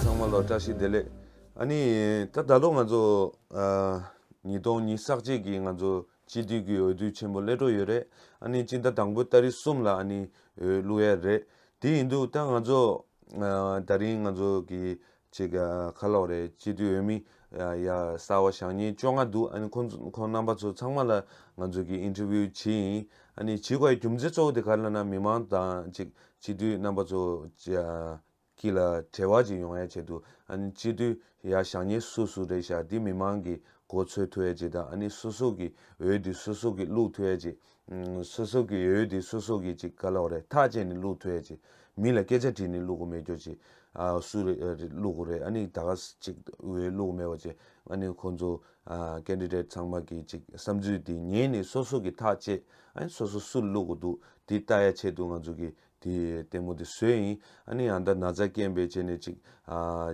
ཚང་མ་ལ་བཀྲ་ཤིས་བདེ་ལེགས། ཨ་ནི། ད་ད་ལོ་ང་ཚོ། ཉིས་སྟོང་ཉིས་བསགས་རྗེས་ཀྱི་ང་ཚོ་སྤྱི་འཐུས་ཀྱི་འོས་བསྡུ་ཆེན་པོ་སླེལ་འགྲོ་ཡོད་རེད། ཨ་ནི་སྤྱི་ཟླ་དང་པོའི་ལྟ་རི་གསུམ་ལ་ཨ་ནི་འོས་བླུགས་ཡ་རེད། དེ་ཡིན་དུས་ད་ང་ཚོ། ད་རིང་ང་ཚོ་གི་ཅིག་ཁ་ལོག་རེད་སྤྱི་འཐུས་འོས་མི། ཡ། གསར་བ་ཞག་ཉིན་བཅོ་ལྔ་འདུག་ཨ་ནི་ཁོ་ཚོ་ཁོང་རྣམ་པ་ཚོ་ཚང་མ་ལ་ང་ཚོ་གིས interview བྱེད་ཡིན་ཨ་ནི་བྱེད་དགོས་ཡ་རྒྱུ་མཚན་གཙོ་བོ་དེ་ག་ལ་ན་མི་མང་དང་ཅིག་སྤྱི་འཐུས་རྣམ་པ་ཚོ། གྱི་ལ་བྲེལ་བ་ཅིག་ཡོང་ཡ་བྱེད་འདུག་ཨ་ནི་སྤྱི་འཐུས་ཡ་ཞག་ཉིན་སུ་སུ་རེད་ཞག་འདི་མི་མང་གིས་གོ་ཚོད་ཐུ་ཡ་བྱེད་དང་ཨ་ནི་སུ་སུ་གིས་འོས་འདི་སུ་སུ་གིས་བླུག་ཐུ་ཡ་བྱེད་སོ་སོ་གི་ཡོད་ཡོད་དེ་སོ་སོ་གི་ཅིག་ག་ལོག་རེད་ཐག་བཅད་ནས་བླུག་ཐུ་ཡ་ཅིག་མི་ལ་སྐད་ཆ་དྲིས་ནས་བླུག་གོ་མེད་ཀྱོ་ཅིག་སུ་རེད་བླུག་གོ་རེད་ཨ་ནི་ད་ག་ཅིག་འོས་བླུག་མེད་པ་ཅིག་ཨ་ནི་ཁོང་ཚོ Candidate ཚང་མ་གི་ཅིག་བསམ་ཚུལ་དེ་ཉན་ནས་སོ་སོ་གི་ཐག་བཅད་ཨ་ནི་སོ་སོ་སུ་བླུག་གོ་འདུག་དེ་ལྟ་ཡ་ཆེད་དུ་ང་ཚོ་གི་དེ་ལྟད་མོ་དེ་སུའི་ཡིན། ཨ་ནི་ཡང་ད་ན་ཚ་སྐྱེན་པའི་རྗེས་ནས་ཅིག།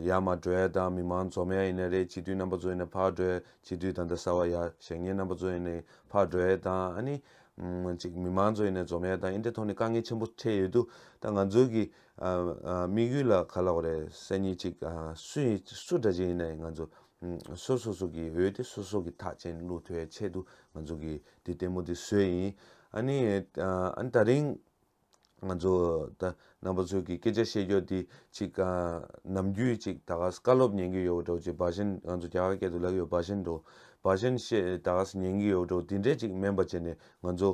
ཡ་མ་གྲོལ་དང་མི་མང་འཛོ་མའི་ཡིན་ན་རེད་སྤྱི་འཐུས་རྣམ་པ་ཚོ་ཡིན་ན་ཕར་གྲོལ་སྤྱི་འཐུས་ད་ལྟ་ས་བ་ཡ་ཞེ་ངའི་རྣམ་པ་ཚོ་ཡིན་ནའི་ཕར་གྲོལ་དང་ཨ་ནི། ཅིག་མི་མང་ཚོ་ཡིན་ནའི་འཛོ་མའི་དང་ཨིན་ཏེ་ཐོག་ནས་དཀའ་ངལ་ཆེན་པོ་འཕྲད་ཡོད་དུ་ད་ང་ཚོའི་གི། དམིགས་ཡུལ་ལ་ག་ལ་བ་རེད་སེ་ནི་ཅིག་སུ་ཡིན་སུ་འདྲ་ཅིག་ཡིན་ནའི་ང་ཚོ། སོ་སོ་སོ་གི་འོས་ཏེ་སོ་སོ་གི་ཐག་ཅན་བླུག་ཐོའི་ཆེད་དུ་ང་ཚོ་གི་དེ་ལྟད་མོ་དེ་སུའི་ཡིན། ཨ་ནི། ཨ་ནི་ད་རིང། ང་ཚོ་རྣམ་པ་ཚོས་ཀྱི་སྐད་ཆ་བཤད་རྒྱུ་འདི་ཅིག་ནམ་རྒྱུན་ཅིག་ད་ག་ཟེ་བཀའ་སློབ་ཉན་གྱི་ཡོད་འགྲོ་ཅིག་འབའ་ཞན་ང་ཚོ་རྒྱ་གར་སྐད་དུ་ལབ་ཡོད་འབའ་ཞན་འགྲོ་འབའ་ཞན་བཤད་ད་ག་ཟེ་ཉན་གྱི་ཡོད་འགྲོ་འདི་འདྲས་ཅིག་མན་པ་བྱས་ནས་ང་ཚོ་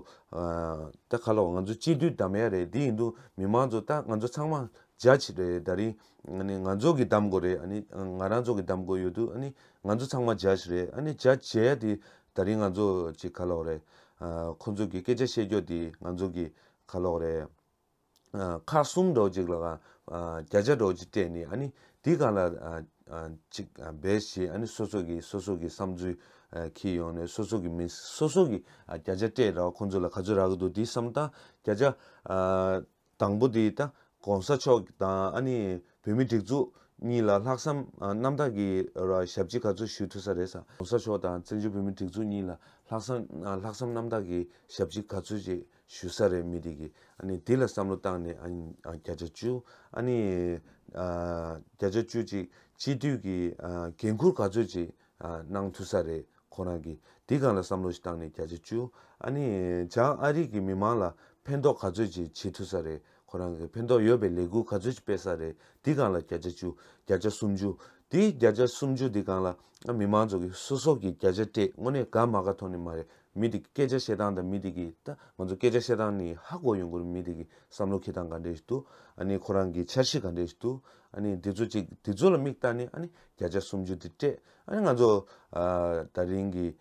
ད་ཁ་ལོ་ང་ཚོ་སྤྱི་འཐུས་གདམ་ཡ་རེད་དེ་ཡིན་དུ་མི་མང་ཚོ་ད་ང་ཚོ་ཚང་མ་ཇཱཇ་རེད་ད་རིང་ང་ཚོ་གྱི་གདམ་དགོས་རེད་ཨ་ནི་ང་རང་ཚོ་གྱི་གདམ་དགོས་ཡོད་དུ་ཨ་ནི་ང་ཚོ་ཚང་མ་ཇཱཇ་རེད་ཨ་ནི་ཇཱཇ་བྱས་ཡ་དེ་ད་རིང་ང་ཚོ་ཅིག་ཁ་ལོག་རེད། ཁོ་ཚོ་གི་སྐད་ཆ་བཤད་རྒྱོ་དེ་ང་ཚོ་གི་ཁ་ལོག་རེད། ཁག་གསུམ་འགྲོ་ཅིག་ལ་གང་བརྒྱ་ཆ་འགྲོ་ཅིག་སྤྲད་ནི་ཨ་ནི་དེ་གང་ལ་ཅིག་འབད་ཞེས་ཨ་ནི་སོ་སོ་གི་སོ་སོ་གི་བསམ་ཚུལ་ཁྱེར་ཡོང་ནས་སོ་སོ་གི་མི་སོ་སོ་གི་བརྒྱ་ཆ་སྤྲད་ར་བ་ཁོ་ཚོ་ལ་ག་ཚོད་རག་གི་འདུག་དེ་བསམ་སྟངས་བརྒྱ་ཆ། དང་པོ་དེ་ད་གོང་ས་མཆོག་དང་ཨ་ནི་བོད་མི་སྒྲིག་འཛུགས་གཉིས་ལ་ལྷག་བསམ་རྣམ་དག་གི་ཞབས་ཕྱི་ག་ཚོད་ཞུ་ཐུབ་ས་རེད་ས་གོང་ས་མཆོག་དང་བཙན་བྱོལ་བོད་མི་སྒྲིག་འཛུགས་གཉིས་ལ་ལྷག་བསམ་ལྷག་བསམ་རྣམ་དག་གི་ཞབས་ཕྱི་ག་ཚོད་ཅིག་ཞུ་ས་རེད་མི་དེ་གི་ཨ་ནི་དེ་ལ་བསམ་བློ་བཏང་ནས་ཨ་ནི་བརྒྱ་ཆ་བཅུ་ཨ་ནི་བརྒྱ་ཆ་བཅུ་ཅིག་སྤྱི་འཐུས་ཀྱི་འགན་འཁུར་ག་ཚོད་ཅིག་གནང་ཐུབ་ས་རེད་ཁོ་རང་གིས་དེ་ག་ལ་བསམ་བློ་ཞིག་བཏང་ནས་བརྒྱ་ཆ་བཅུ། ཨ་ནི། བྱང་ཨ་རིག་གི་མི་མང་ལ་ཕན་ཐོག་ག་ཚོད་ཅིག་བྱེད་ཐུབ་ས་རེད་ཁོ་རང་གིས་ཕན་ཐོག་ཡོད་པའི་ལས་འགུལ་ག་ཚོད་ཅིག་སྤེལ་ས་རེད་དེ་གང་ལ་བརྒྱ་ཆ་བཅུ། བརྒྱ་ཆ་སུམ་ཅུ། དེ་བརྒྱ་ཆ་སུམ་ཅུ་དེ་གང་ལ་ཨ་མི་མང་ཚོགས་གིས་སོ་སོག་གིས་བརྒྱ་ཆ་སྤྲད་དངོས་གནས་དགའ་མ་ག་ཐོག་ནས་མ་རེད་མི་དེ་གི་སྐད་ཆ་བཤད་སྟངས་དང་མི་དེ་གི་ད་ང་ཚོ་སྐད་ཆ་བཤད་སྟངས་ནི་ཧ་གོ་ཡོང་དགོས་རེད་མི་དེ་གི་བསམ་བློ་ཁེ་དང་ག་འདྲས་ཞིག་འདུག་ཨ་ནི་ཁོ་རང་གི་འཆར་གཞི་ག་འདྲས་ཞིག་འདུག་ཨ་ནི་དེ་ཚོ་ཅིག་དེ་ཚོ་ལ་མིག་བལྟ་ནས་ཨ་ནི་བརྒྱ་ཆ་སུམ་ཅུ་དེ་སྤྲད་ཨ་ནི་ང་ཚོ་ད་རིང་གི་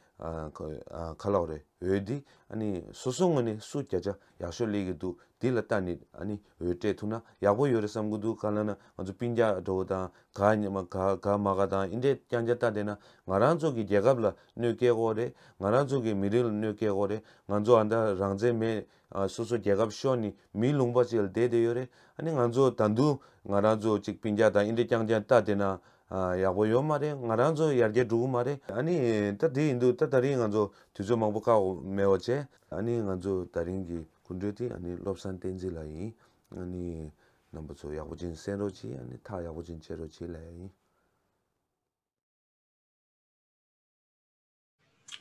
ཁ་ལོག་རེ་འོས་འདི་ཨ་ནི་སོ་སོ་ངོས་ནས་སུ་བརྒྱ་ཆ་ཡག་ཤོས་ལེགས་ཀྱི་འདུག་འདི་ལ་ལྟ་ནི་ཨ་ནི་འོས་སྤྲད་ཐུབ་ན་ཡག་པོ་ཡོད་རེ་བསམ་གི་འདུག་ག་ལ་ན་ང་ཚོ་པིན་རྒྱ་འགྲོ་བོ་དང་ག་ཉི་མ་ག་ག་མ་ག་དང་ཨིན་དྲས་ཀྱང་རྒྱ་ལྟ་བསྡད་ན་ང་རང་ཚོ་གི་རྒྱལ་ཁབ་ལ་གནོད་སྐྱེལ་དགོ་རེད་ང་རང་ཚོ་གི་མི་རིགས་ལ་གནོད་སྐྱེལ་དགོ་རེད་ང་ཚོ་ཨ་མདའ་རང་བཙན་མེད་སོ་སོ་རྒྱལ་ཁབ་ཤོར་ནི་མིའི་ལུང་པ་ཅིག་ལ་བསྡད་བསྡད་ཡོད་རེད་ཨ་ནི་ང་ཚོ་ད་འདུག་ང་རང་ཚོ་ཅིག་པིན་རྒྱ་དང་ཨིན་རི་རྐྱང་རྐྱང་ལྟ་བསྡད་ན་ཡག་པོ་ཡོད་མ་རེད་ང་རང་ཚོ་ཡར་རྒྱས་འགྲོ་གི་མ་རེད་ཨ་ནི་ད་དེ་ཡིན་འདུག་ད་ད་རིང་ང་ཚོ་དུས་ཚོད་མང་པོ་བཀག་འོག་མེད་འོག་བྱས། ཨ་ནི་ང་ཚོ་ད་རིང་གི་སྐུ་མགྲོན་དེ་ཨ་ནི་བློ་བཟང་བསྟན་འཛིན་ལགས་ཡིན་ཨ་ནི་རྣམ་པ་ཚོ་ཡག་པོ་ཅིག་གསན་རོགས་གྱིས་ཨ་ནི་ཐག་ཡག་པོ་ཅིག་བཅད་རོགས་གྱིས་ལེ་ཡིན།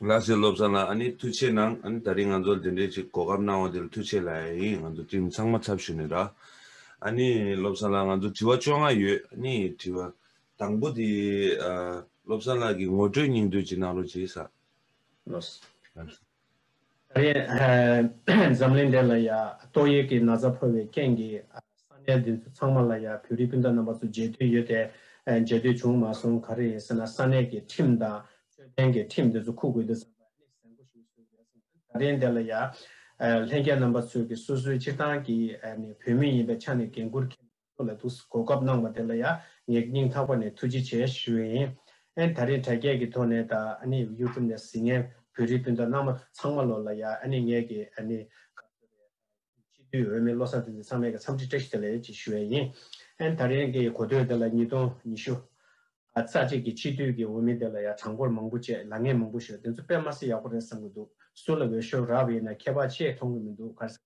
ལ་སེ་སློབ་ཚང་ལ་ཨ་ནི་ཐུགས་ཆེ་གནང་ཨ་ནི་ད་རིང་ང་ཚོར་འདི་འདྲའི་ཅིག་གོ་སྐབས་གནང་བ་དེར་ཐུགས་ཆེ་ལ་ཨེ་ཡིན་ང་ཚོ་ཏིམ་ཚང་མ་ཚབ་ཞུ་ནས་ར་ཨ་ནི་སློབ་ཚང་ལ་ང་ཚོ་དྲི་བ་བཅོ་ལྔ་ཡོད་ཨ་ནི་དྲི་བ་དང་པོ་དེ་སློབ་ཚང་ལགས་ཀྱི་ངོ་སྤྲོད་སྙིང་བསྡུས་ཅིག་གནང་རོགས་གྱིས་ས། ལོས། ད་རེས་འཛམ་གླིང་འདི་ལ་ཡང་ཏོག་དབྱིབས་ཀྱི་ན་ཚ་ཕོག་པའི་རྐྱེན་གྱིས་ས་གནས་འདི་ཚོ་ཚང་མ་ལ་ཡང་བོད་རིགས་སྤུན་ཟླ་རྣམ་པ་ཚོ་མཇལ་དུས་ཡོད་དེ། མཇལ་དུས་བྱུང་མ་སོང་ག་རེ་ཡིན་ཟེར་ན་ས་གནས་ཀྱི་ཁྲིམས་དང་དཔྱོད་ལྡན་གྱི་ཁྲིམས་འདི་ཚོ་ཁུག་དགོས་འདུག་བསམ་པ་གནད་ཟེར་མགོ་ཞིག་བཟོས་ཡོད་སེམས་ན་ད་རེས་འདི་ལ་ཡང་ལྷན་རྒྱས་རྣམ་པ་ཚོས་ཀྱི་སོ་སོའི་སྤྱིར་བཏང་གི་ནས་བོད་མི་ཡིན་པའི་ཆ་ནས་འགན་ཁུར་ཁེལ་ནས། ཁོ་ལ་ཐུགས་གོ་སྐབས་གནང་བ་དེ་ལ་ཡང་ངས་སྙིང་ཐག་པ་ནས་ཐུགས་རྗེ་ཆེ་ཞུ་ཡི་ཡིན། ཨན་ད་རིང་དྲ་རྒྱས་ཀྱི་ཐོག་ནས་དང YouTube ནས་ཟིན་ངན་བོད་རིགས་སྤུན་ཟླ་རྣམ་མང་ཚང་མ་ལོ་ལ་ཡང་ངས་ཀྱི་ཁ་བརྡའི་སྤྱི་འཐུས་འོས་མི་བློ་བཟང་དེ་ཚང་མས་ཀྱི་འཚམས་འདྲི་བཀྲ་ཤིས་བདེ་ལེགས་ཞུ་ཡི་ཡིན། ཨན་ད་རིང་གི་གོ་ཐོས་དེ་ལ་ཉིས་སྟོང་ཉི་ཤུ་རྩ་གཅིག་གི་སྤྱི་འཐུས་ཀྱི་འོས་མི་དེ་ལ་ཡང་གྲངས་འབོར་མང་པོ་བཅས་ལ་ངས་མང་པོ་ཞུ་དེ་ཚོ་དཔེ་མ་སྲིད་ཡག་པོ་རེད་བསམ་གྱི་འདུག་སུ་ལ་འོས་ཤོར་རག་བས་ན་མཁས་པ་ཆེས་མཐོང་གི་མི་འདུག་གར་སེམས་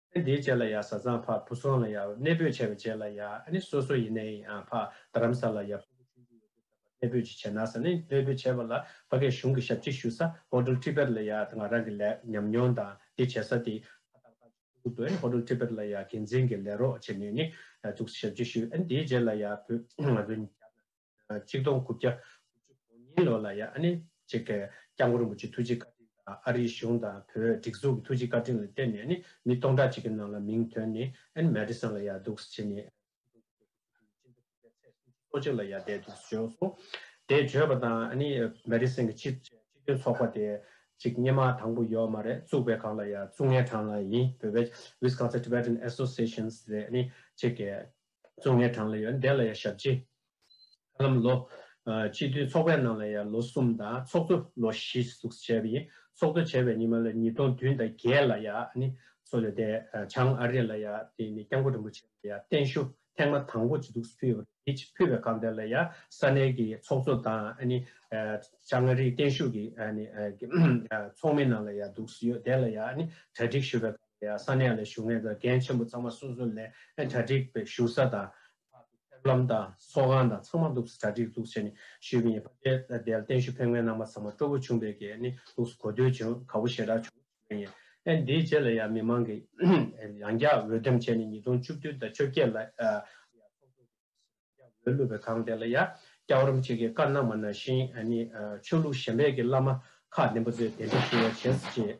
ཨ་འདིའི་རྗེས་ལ་ཡ་བཟའ་ཚང་ཕ་བུ་སོང་ལ་ཡ་གནས་སྤོས་བྱས་པའི་རྗེས་ལ་ཡ་ཨ་ནི་སོ་སོ་ཡིན་ནའི་ཡང་ཕ་རྡ་རམ་ས་ལ་ཡ་ཕ་བུ་ཆུང་བཅུ་ཡོད་དུས་ད་བར་གནས་སྤོས་ཅི་བྱས་ན་ས་ནི་གནས་སྤོས་བྱས་པ་ལ་བ་གའི་གཞུང་གི་ཞབས་ཕྱི་ཞུ་ས Hotel Tibet ལ་ཡ་དེ་ང་རང་གི་ལས་ཉམས་མྱོང་དང་དེ་བྱས་ས་དེ་ཕ་ཏག་ཏག་ཅིག་ཕུ་བོ་ཕུ་བོ་དེ Hotel Tibet ལ་ཡ་འགན་འཛིན་གྱི་ལས་རོགས་བྱེད་ནུས་ནི་བཙུགས་ས་ཞབས་ཕྱི་ཞུ་ཨ་འདིའི་རྗེས་ལ་ཡ་བུ་ང་བུ་ང་བྱ་དང། གཅིག་སྟོང་དགུ་བརྒྱ་དགུ་བཅུ་གོ་གཉིས་ལོ་ལ་ཡང་ཨ་ནེ་གཅིག་གིས་སྐྱབས་མགོན་རིན་པོ་ཆེའི་ཐུགས་རྗེའི་བཀའ་དྲིན་དང་ཨ་རིའི་གཞུང་དང་བོད་སྒྲིག་འཛུགས་ཀྱི་ཐུགས་རྗེའི་བཀའ་དྲིན་ལ་བརྟེན་ནས་ནི་མི་སྟོང་ཕྲག་གཅིག་གི་ནང་ལ་མིང་དོན་ནི་ཨན་མཱེ་ཏི་སན་ལ་ཡར་འདུག་ཅེས་ནི་གཅིག་སྟོང་དགུ་བརྒྱ་དགུ་བཅུ་གོ་གཉིས་ལོ་ནི་ཨ་ནེ་གཅིག་གི་ཚེས་སུམ་ཅུ་སོ་གཅིག་ལ་ཡར་འདས་འདུག་བརྗོད་སོང། དེ་བརྗོད་པ་དང་ཨ་ནེ་མཱེ་ཏི་སན་གྱི་སྤྱི་མཐུན་ཚོགས་པ་དེ་གཅིག་སྙེ་མ་དང་པོ་ཡོད་མ་རེད་བཙུགས་པའི་གང་ལ་ཡང་བཙུགས་ངེས་གྲངས་ལ་ཡིན་བོད་པའི Wisconsin Tibetan Associations རེད་ཨ་ནེ་གཅིག་གིས་གཙོ་ལྔའི་གྲངས་ལ་ཡང་འདས་ལ་ཡང་ཞབས་སྤྱི། ཧ་ལམ་ལོ། སྤྱི་མཐུན་ཚོགས་པའི་ནང་ལ་ཡང་ལོ་གསུམ་དང་ཚོགས་གཙོ་ལོ་བཞི་གཟུགས་སུ་བྱས་པ་ཡིན། ཚོགས་གཙོ་བྱས་པའི་ཉི་མ་ལ་ཉིས་སྟོང་བདུན་དང་བརྒྱད་ལ་ཡང་ནི་སོ་ལོ་དེ་བྱང་ཨ་རི་ལ་ཡང་དེ་ནི་སྐྱབས་མགོན་རིན་པོ་ཆེ་ལ་ཡང་བརྟན་བཞུགས་ཐེངས་མ་དང་པོ་གཅིག་གཟུགས་སུ་ཕུལ་ཡོད་པ་རེད། ཕུལ་བའི་སྒང་དེ་ལ་ཡང་ས་གནས་ཀྱི་ཚོགས་གཙོ་དང་ནི་བྱང་ཨ་རིའི་བརྟན་བཞུགས་ཀྱི་ནི་ཚོགས་མི་རྣམས་ལ་ཡང་གཟུགས་སུ་ཡོད་དེ་ལ་ཡང་ནི་གྲ་སྒྲིག་ཞུ་བའི་སྒང་ས་གནས་ལ་བཞུགས་ནས་དང་རྒན་ཆེན་པོ་ཚང་མ་སོ་སོ་ལས་གྲ་སྒྲིག་པའི་བཞུགས་ས་དང། ཕེབས་ལམ་དང་གསོལ་ཁང་དང་ཚང་མ་ལུགས་སུ་གྲ་སྒྲིག་འཛུགས་བྱས་ནས་བཞུད་ཀྱི་ཡིན། ཕ་རྒན་དེ་ལ་བརྟན་བཞུགས་ཕེབས་མཁན་རྣམས་པ་ཚང་མ་སྤྲོ་བོ་ཆུང་བས་ཀྱི་ནི་ལུགས་སུ་གོ་ཐོས་བྱུང་ག་བོ་ཞེ་དྲག་བྱུང་བ་ཞིག་ཡིན། ཨ་འདིའི་རྗེས་ལ་ཡང་མི་མང་གིས་ཡང་བསྐྱར་འོས་འདེམས་བྱས་ནས་ཉིས་སྟོང་བཅུ་བདུན་དང་བཅོ་བརྒྱད་ལ་ཡང་ཚོགས་གཙོ་གི་ཡང་བསྐྱར་འོས་བླུགས་པའི་སྒང་དེ་ལ་ཡང་བསྐྱར་འོར་འམ་ཅིག་གི་བཀའ་གནང་བ་ན་བཞིན་ནི་ཆོས་ལུགས་གཞན་པས་ཀྱི་བླ་མ་ཁག་བདེན་པ་ཚོས་གདན་འདྲེན་ཞུ་བ་བྱེད་ཅེས།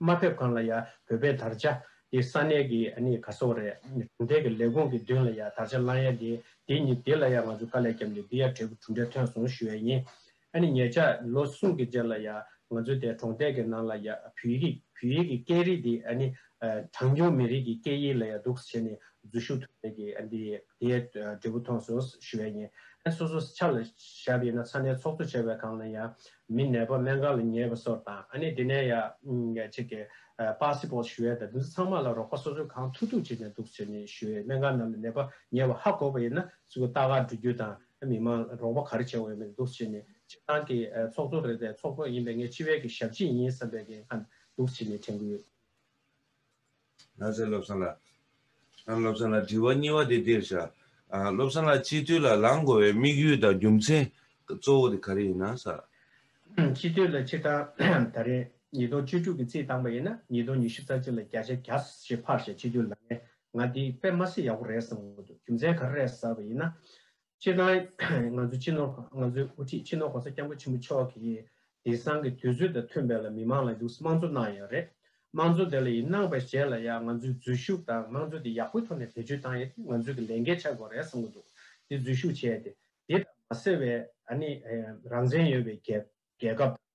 མ་ཕེབས་གང་ལ་ཡང་བོད་པའི་དར་ཆ་དེ་ས་གནས་ཀྱི་ནི་ག་སོག་རེད་གྲུབ་མཐའི་གི་ལས་ཁུངས་ཀྱི་མདུན་ལ་ཡང་དར་ཆ་བསླང་ཡ་དེ་དེ་ནི་དེ་ལ་ཡང་ང་ཚོ་དཀའ་ལས་བརྒྱབ་ནས་འདི་ཡ་འབྲས་བུ་གྲུབ་འབྲས་ཐོན་སོང་ཞུ་ཡ་ཡིན་ཨ་ནི་ཉེ་ཆར་ལོ་གསུམ་གི་རྗེས་ལ་ཡང་ང་ཚོ་དེ་གྲོང་རྡལ་གི་ནང་ལ་ཡང་བོད་ཡིག་བོད་ཡིག་གི་སྐད་རིགས་དེ་ཨ་ནི་གྲངས་ཉུང་མི་རིགས་ཀྱི་སྐད་ཡིག་ལ་ཡང་འདུག་བྱས་ནས་འཛུལ་ཞུགས་ཐུབ་མེད་གི་ཨ་འདི་དེ་ཡ་འབྲས་བུ་ཐོན་སོང་ཞུ་ཡ་ཡིན་ཨ་སོ་སོ་ཆ་ལ་ཞབས་ཡིན་ན་ས་གནས་ཚོགས་གཙོ་བྱས་པའི་གང་ལ་ཡང་མི་ནད་པ་སྨན་ཁང་ལ་ཉེ་བ་སོགས་དང་ཨ་ནེ་དེ་ནས་ཡང་ཆེ་གེ་པཱ་སི་པོ་ཞུ་ཡས་དང་འདི་ཚོ་ཚང་མ་ལ་རོགས་པ་སོ་སོས་གང་ཐུབ་ཐུབ་བྱས་ནས་འདུག་ཟེར་ནས་ཞུ་ཡས་སྨན་ཁང་ནང་ལ་ནད་པ་ཉེ་བ་ཧ་གོ་བ་ཡིན་ན་སུ་གི་ལྟ་ག་འགྲོ་རྒྱུ་དང་མི་མང་ལ་རོགས་པ་ག་རེ་བྱས་དགོས་ཡོད་མེད་འདུག་བྱས་ནས་སྤྱི་བཏང་གི་ཚོགས་གཙོ་རེད་པས་ཚོགས་གཙོ་ཡིན་པས་ངས་སྤྱི་བའི་གི་ཞབས་ཕྱི་ཡིན་བསམ་པའི་གི་ཁ་ན་འདུག་བྱས་ནས་དྲན་གི་ཡོད། ལྷ་སའི་བློ་བཟང་ལགས། ཨང་བློ་བཟང་ལགས་དྲི་བ་གཉིས་བ་དེ་འདིར་བཞག། ཨང་བློ་བཟང་ལགས་སྤྱི་འཐུས་ལ་ལངས་དགོས་བའི་དམིགས་ཡུལ་དང་རྒྱུ་མཚན་གཙོ་བོ་དེ་ག་རེ་ཡིན་ན་ས། ཨང་སྤྱི་འཐུས་ལ་ཕྱི་ཟླ་ད་རེས་ཉིས་སྟོང་བཅུ་དྲུག་གི་རྩིས་བཏང་པ་ཡིན་ན་ཉིས་སྟོང་ཉི་ཤུ་རྩ་གཅིག་ལ་བརྒྱ་ཆ་གྱ་བཞི་ཕར་བཞག་སྤྱི་འཐུས་ལ་ངས་ང་འདི་དཔེ་མ་སྲིད་ཡག་པོ་རེད་བསམ་གི་མ་འདུག་རྒྱུ་མཚན་ག་རེ་རེད་ཟེར་བ་ཡིན་ན། སྤྱིར་ན་ང་ཚོའི་སྤྱི་ནོར་ཁང་ང་ཚོའི་དབུ་ཁྲིད་སྤྱི་ནོར་གོང་ས་སྐྱབས་མགོན་ཆེན་པོ་མཆོག་གིས་དེང་སང་གི་དུས་ཚོད་དང་མཐུན་པའི་ལ་མི་མང་ལ་ལུགས་དམངས་གཙོ་གནང་ཡོད་རེད། དམངས་གཙོ་དེ་ལ་ཡིན་གནང་བའི་རྗེས་ལ་ཡང་ང་ཚོའི་འཛུལ་ཞུགས་དང་དམངས་གཙོ་དེ་ཡག་པོའི་ཐོག་ནས་བེད་སྤྱོད་བཏང་ཡོད་དེ་ང་ཚོས་གི་ལས་འགན་ཆགས་དགོས་རེད་བསམ་གི་འདུག་དེ་འཛུལ་ཞུགས་བྱས་ཏེ་དེ་ལྟར་མ་ཟེར་བའི་ཨ་ནི་རང་བཙན་ཡོད་པའི་རྒྱལ་ཁབ་དང།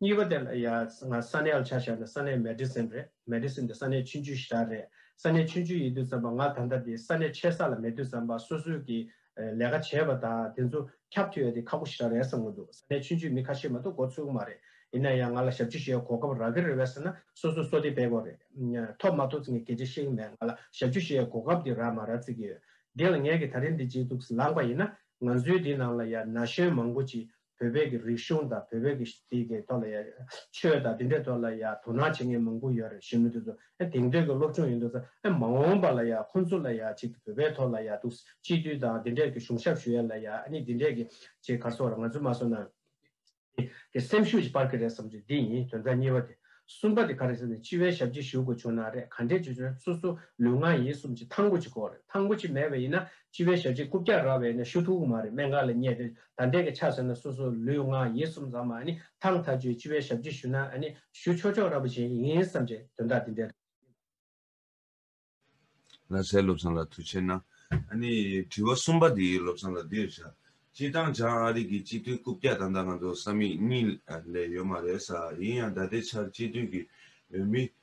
གཉིས་པ་དེ་ལ་ཡ་ང་ས་གནས་ལ་ཆ་བཞག་ན་ས་གནས Medicine རེད Medicine དེ་ས་གནས་ཆུ་འཇུ་ཞར་རེད་ས་གནས་ཆུ་འཇུ་ཡིད་དུ་བརྩམས་པ་ང་ད་ལྟ་དེ་ས་གནས་ཆེ་ས་ལ་མེད་དུ་བརྩམས་པ་སོ་སོས་ཀྱི་ལས་ཀ་བྱས་པ་དང་དེ་ཚོ་ཁྱབ་ཐུ་ཡོད་དེ་ཁག་པོ་ཞར་རེད་བསམ་གི་འདུག་ས་གནས་ཆུ་འཇུ་མི་ཁ་ཤས་མ་གཏོགས་འགོ་ཚུགས་གི་མ་རེད་ཡིན་ན་ཡང་ང་ལ་ཞབས་ཕྱི་ཞུ་ཡའི་གོ་སྐབས་རག་གི་རེད་བས་ས་ན་སོ་སོས་སོ་དེ་བེད་དགོས་རེད་ཐོབ་མ་ཐོབ་ཚིག་ངས་གལ་ཆེ་ཤེས་གི་མེད་ང་ལ་ཞབས་ཕྱི་ཞུ་ཡའི་གོ་སྐབས་དེ་རག་མ་རག་ཚིག་གི་ཡོད་དེ་ལ་ངས་ཀྱི་ད་རིང་འདི་ཇེ་སྡུག་སེ་ལངས་པ་ཡིན་ན་ང་ཚོའི་འདི་ནང་ལ་ཡ་ན་གཞོན་མང་པོ་ཅིག་བོད་པའི་གི་རིག་གཞུང་དང་བོད་པའི་གི་དེ་གི་ཐོག་ལ་ཡང་ཆོས་དང་དེ་འདྲའི་ཐོག་ལ་ཡང་དོ་སྣང་བྱེད་མཁན་མང་པོ་ཡོད་རེད་གཞོན་ནུ་དེ་ཚོ་ཨེ་དེང་དུས་གི་སློབ་ཆུང་ཡིན་འདུག་ས་ཨེ་མ་འོངས་པ་ལ་ཡང་ཁོང་ཚོ་ལ་ཡང་ཅིག་བོད་པའི་ཐོག་ལ་ཡང་དུ་སྤྱི་འཐུས་དང་དེ་འདྲའི་གི་གཞུང་ཞབས་ཞུ་ཡ་ལ་ཡང་ཨ་ནི་དེ་འདྲའི་གི་ཅིག་ག་སོག་ར་ང་ཚོས་མ་སོ་ན་དེ་གི་སེམས་ཤུགས་ཅིག་སྤར་གི་རེད་བསམ་ཚུལ་དེ་ཡིན་དོན་དག་གཉིས་པ་དེ་གསུམ་པ་དེ་ག་རེད་ཟེར་ན་སྤྱི་བའི་ཞབས་ཅིག་ཞུ་དགོས་བྱུང་ན་རེད་ག་འདྲའི་ཅིག་ཆོས་སོ་སོ་ལུས་ངག་ཡིད་གསུམ་ཅིག་ཐང་པོ་ཅིག་དགོས་རེད་ཐང་པོ་ཅིག་མེད་པ་ཡིན་ན་སྤྱི་བའི་ཞབས་ཅིག་རྐུབ་བཀྱག་ར་བས་ན་ཞུ་ཐུག་གི་མ་རེད་སྨན་ཁང་ལ་བསྙད་དེ་ད་འདྲེ་གི་ཆ་ཟེར་ན་སོ་སོ་ལུས་ངག་ཡིད་གསུམ་ཟ་མ་ནི་ཐང་ཐ་ཆུའི་ལྕི་བའི་ཞབས་ཀྱིས་ཞུ་ན་ནི་ཞུ་ཆོག་ཆོག་ར་པོ་བྱེད་ཀྱི་ཡིན་བསམ་བྱས་དོན་དག་འདི་འདྲ་རེད། ལྷ་སའི་བློ་བཟང་ལ་ཐུགས་ཆེ་ན། དྲི་བ་གསུམ་པ་འདི་བློ་བཟང་ལ་འདིར་བྱ། སྤྱིར་བཏང་བྱང་ཨ་རིག་གི་སྤྱི་འཐུས་རྐུབ་བཀྱག་ད་ལྟ་ང་ཚོ་ས་མིག་གཉིས་ལས་ཡོད་མ་རེད་ས་ཡིན་ཡང་ད་ལྟའི་ཆར་སྤྱི་འཐུས་ཀྱི་འོས་མི།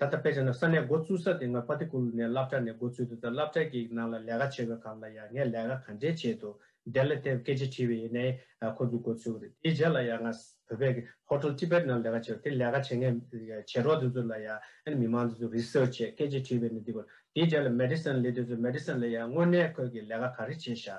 ད་ལྟ་དཔེ་ཆ་ནང་ས་གནས་འགོ་བཙུགས་ས་དེ་སྔོན་པ་ཏི་ཀུ་ལུ་ནས་བླ་བྲ་ནས་འགོ་བཙུགས་འདུག་ད་བླ་བྲ་གི་ནང་ལ་ལས་ཀ་བྱེད་དགོས་གམ་ལ་ཡང་ངས་ལས་ཀ་ག་འདྲའི་བྱས་འདུག་དེ་ལ་དེབ་སྐད་ཆ་དྲིས་པའི་ཡེ་ནའི་ཁོ་ཚོས་འགོ་བཙུགས་རེད་དེའི་རྗེས་ལ་ཡང་ང་བོད་པའི་གི Hotel Tibet ནང་ལས་ཀ་བྱས་དེ་ལས་ཀ་བྱེད་མཁན་བྱེད་རོགས་དེ་ཚོ་ལ་ཡང་མི་མང་དེ་ཚོས Research བྱས་སྐད་ཆ་དྲིས་པའི་ནི་འདི་དགོས་དེའི་རྗེས་ལ Medicine ལི་དེ་ཚོས Medicine ལ་ཡང་དངོས་གནས་ཁོས་གི་ལས་ཀ་ག་རེ་བྱས་ཤག་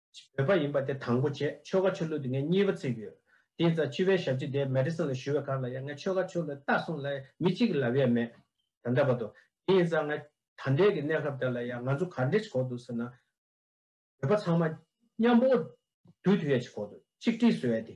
བོད་པ་ཡིན་པ་དེ་དང་པོ་བྱས་ཆོལ་ཁ་ཆོས་ལུགས་དེ་ངས་གཉིས་པ་ཚིག་ཡོད། དེ་ཡིན་ཙང་སྤྱི་བའི་ཞབས་ཕྱི་དེ Madison ལ་ཞུ་བའི་ཁར་ལ་ཡང་ངས་ཆོལ་ཁ་ཆོས་ལུགས་ལྟ་སོང་ལ་མི་གཅིག་གི་ལབ་ཡས་མེད། ད་འདྲ་བ་དོ། དེ་ཡིན་ཙང་ང་ད་འདྲའི་གི་གནས་སྐབས་དེ་ལ་ཡང་ང་ཚོ་གར་འདྲེས་གོ་འདུག་ཟེར་ན། བོད་པ་ཚང་མ། མཉམ་པོ། དུས་དུས་ཡས་ཆི་གོ་འདུག་ཆིག་སྒྲིལ་བཟོ་ཡས་དེ།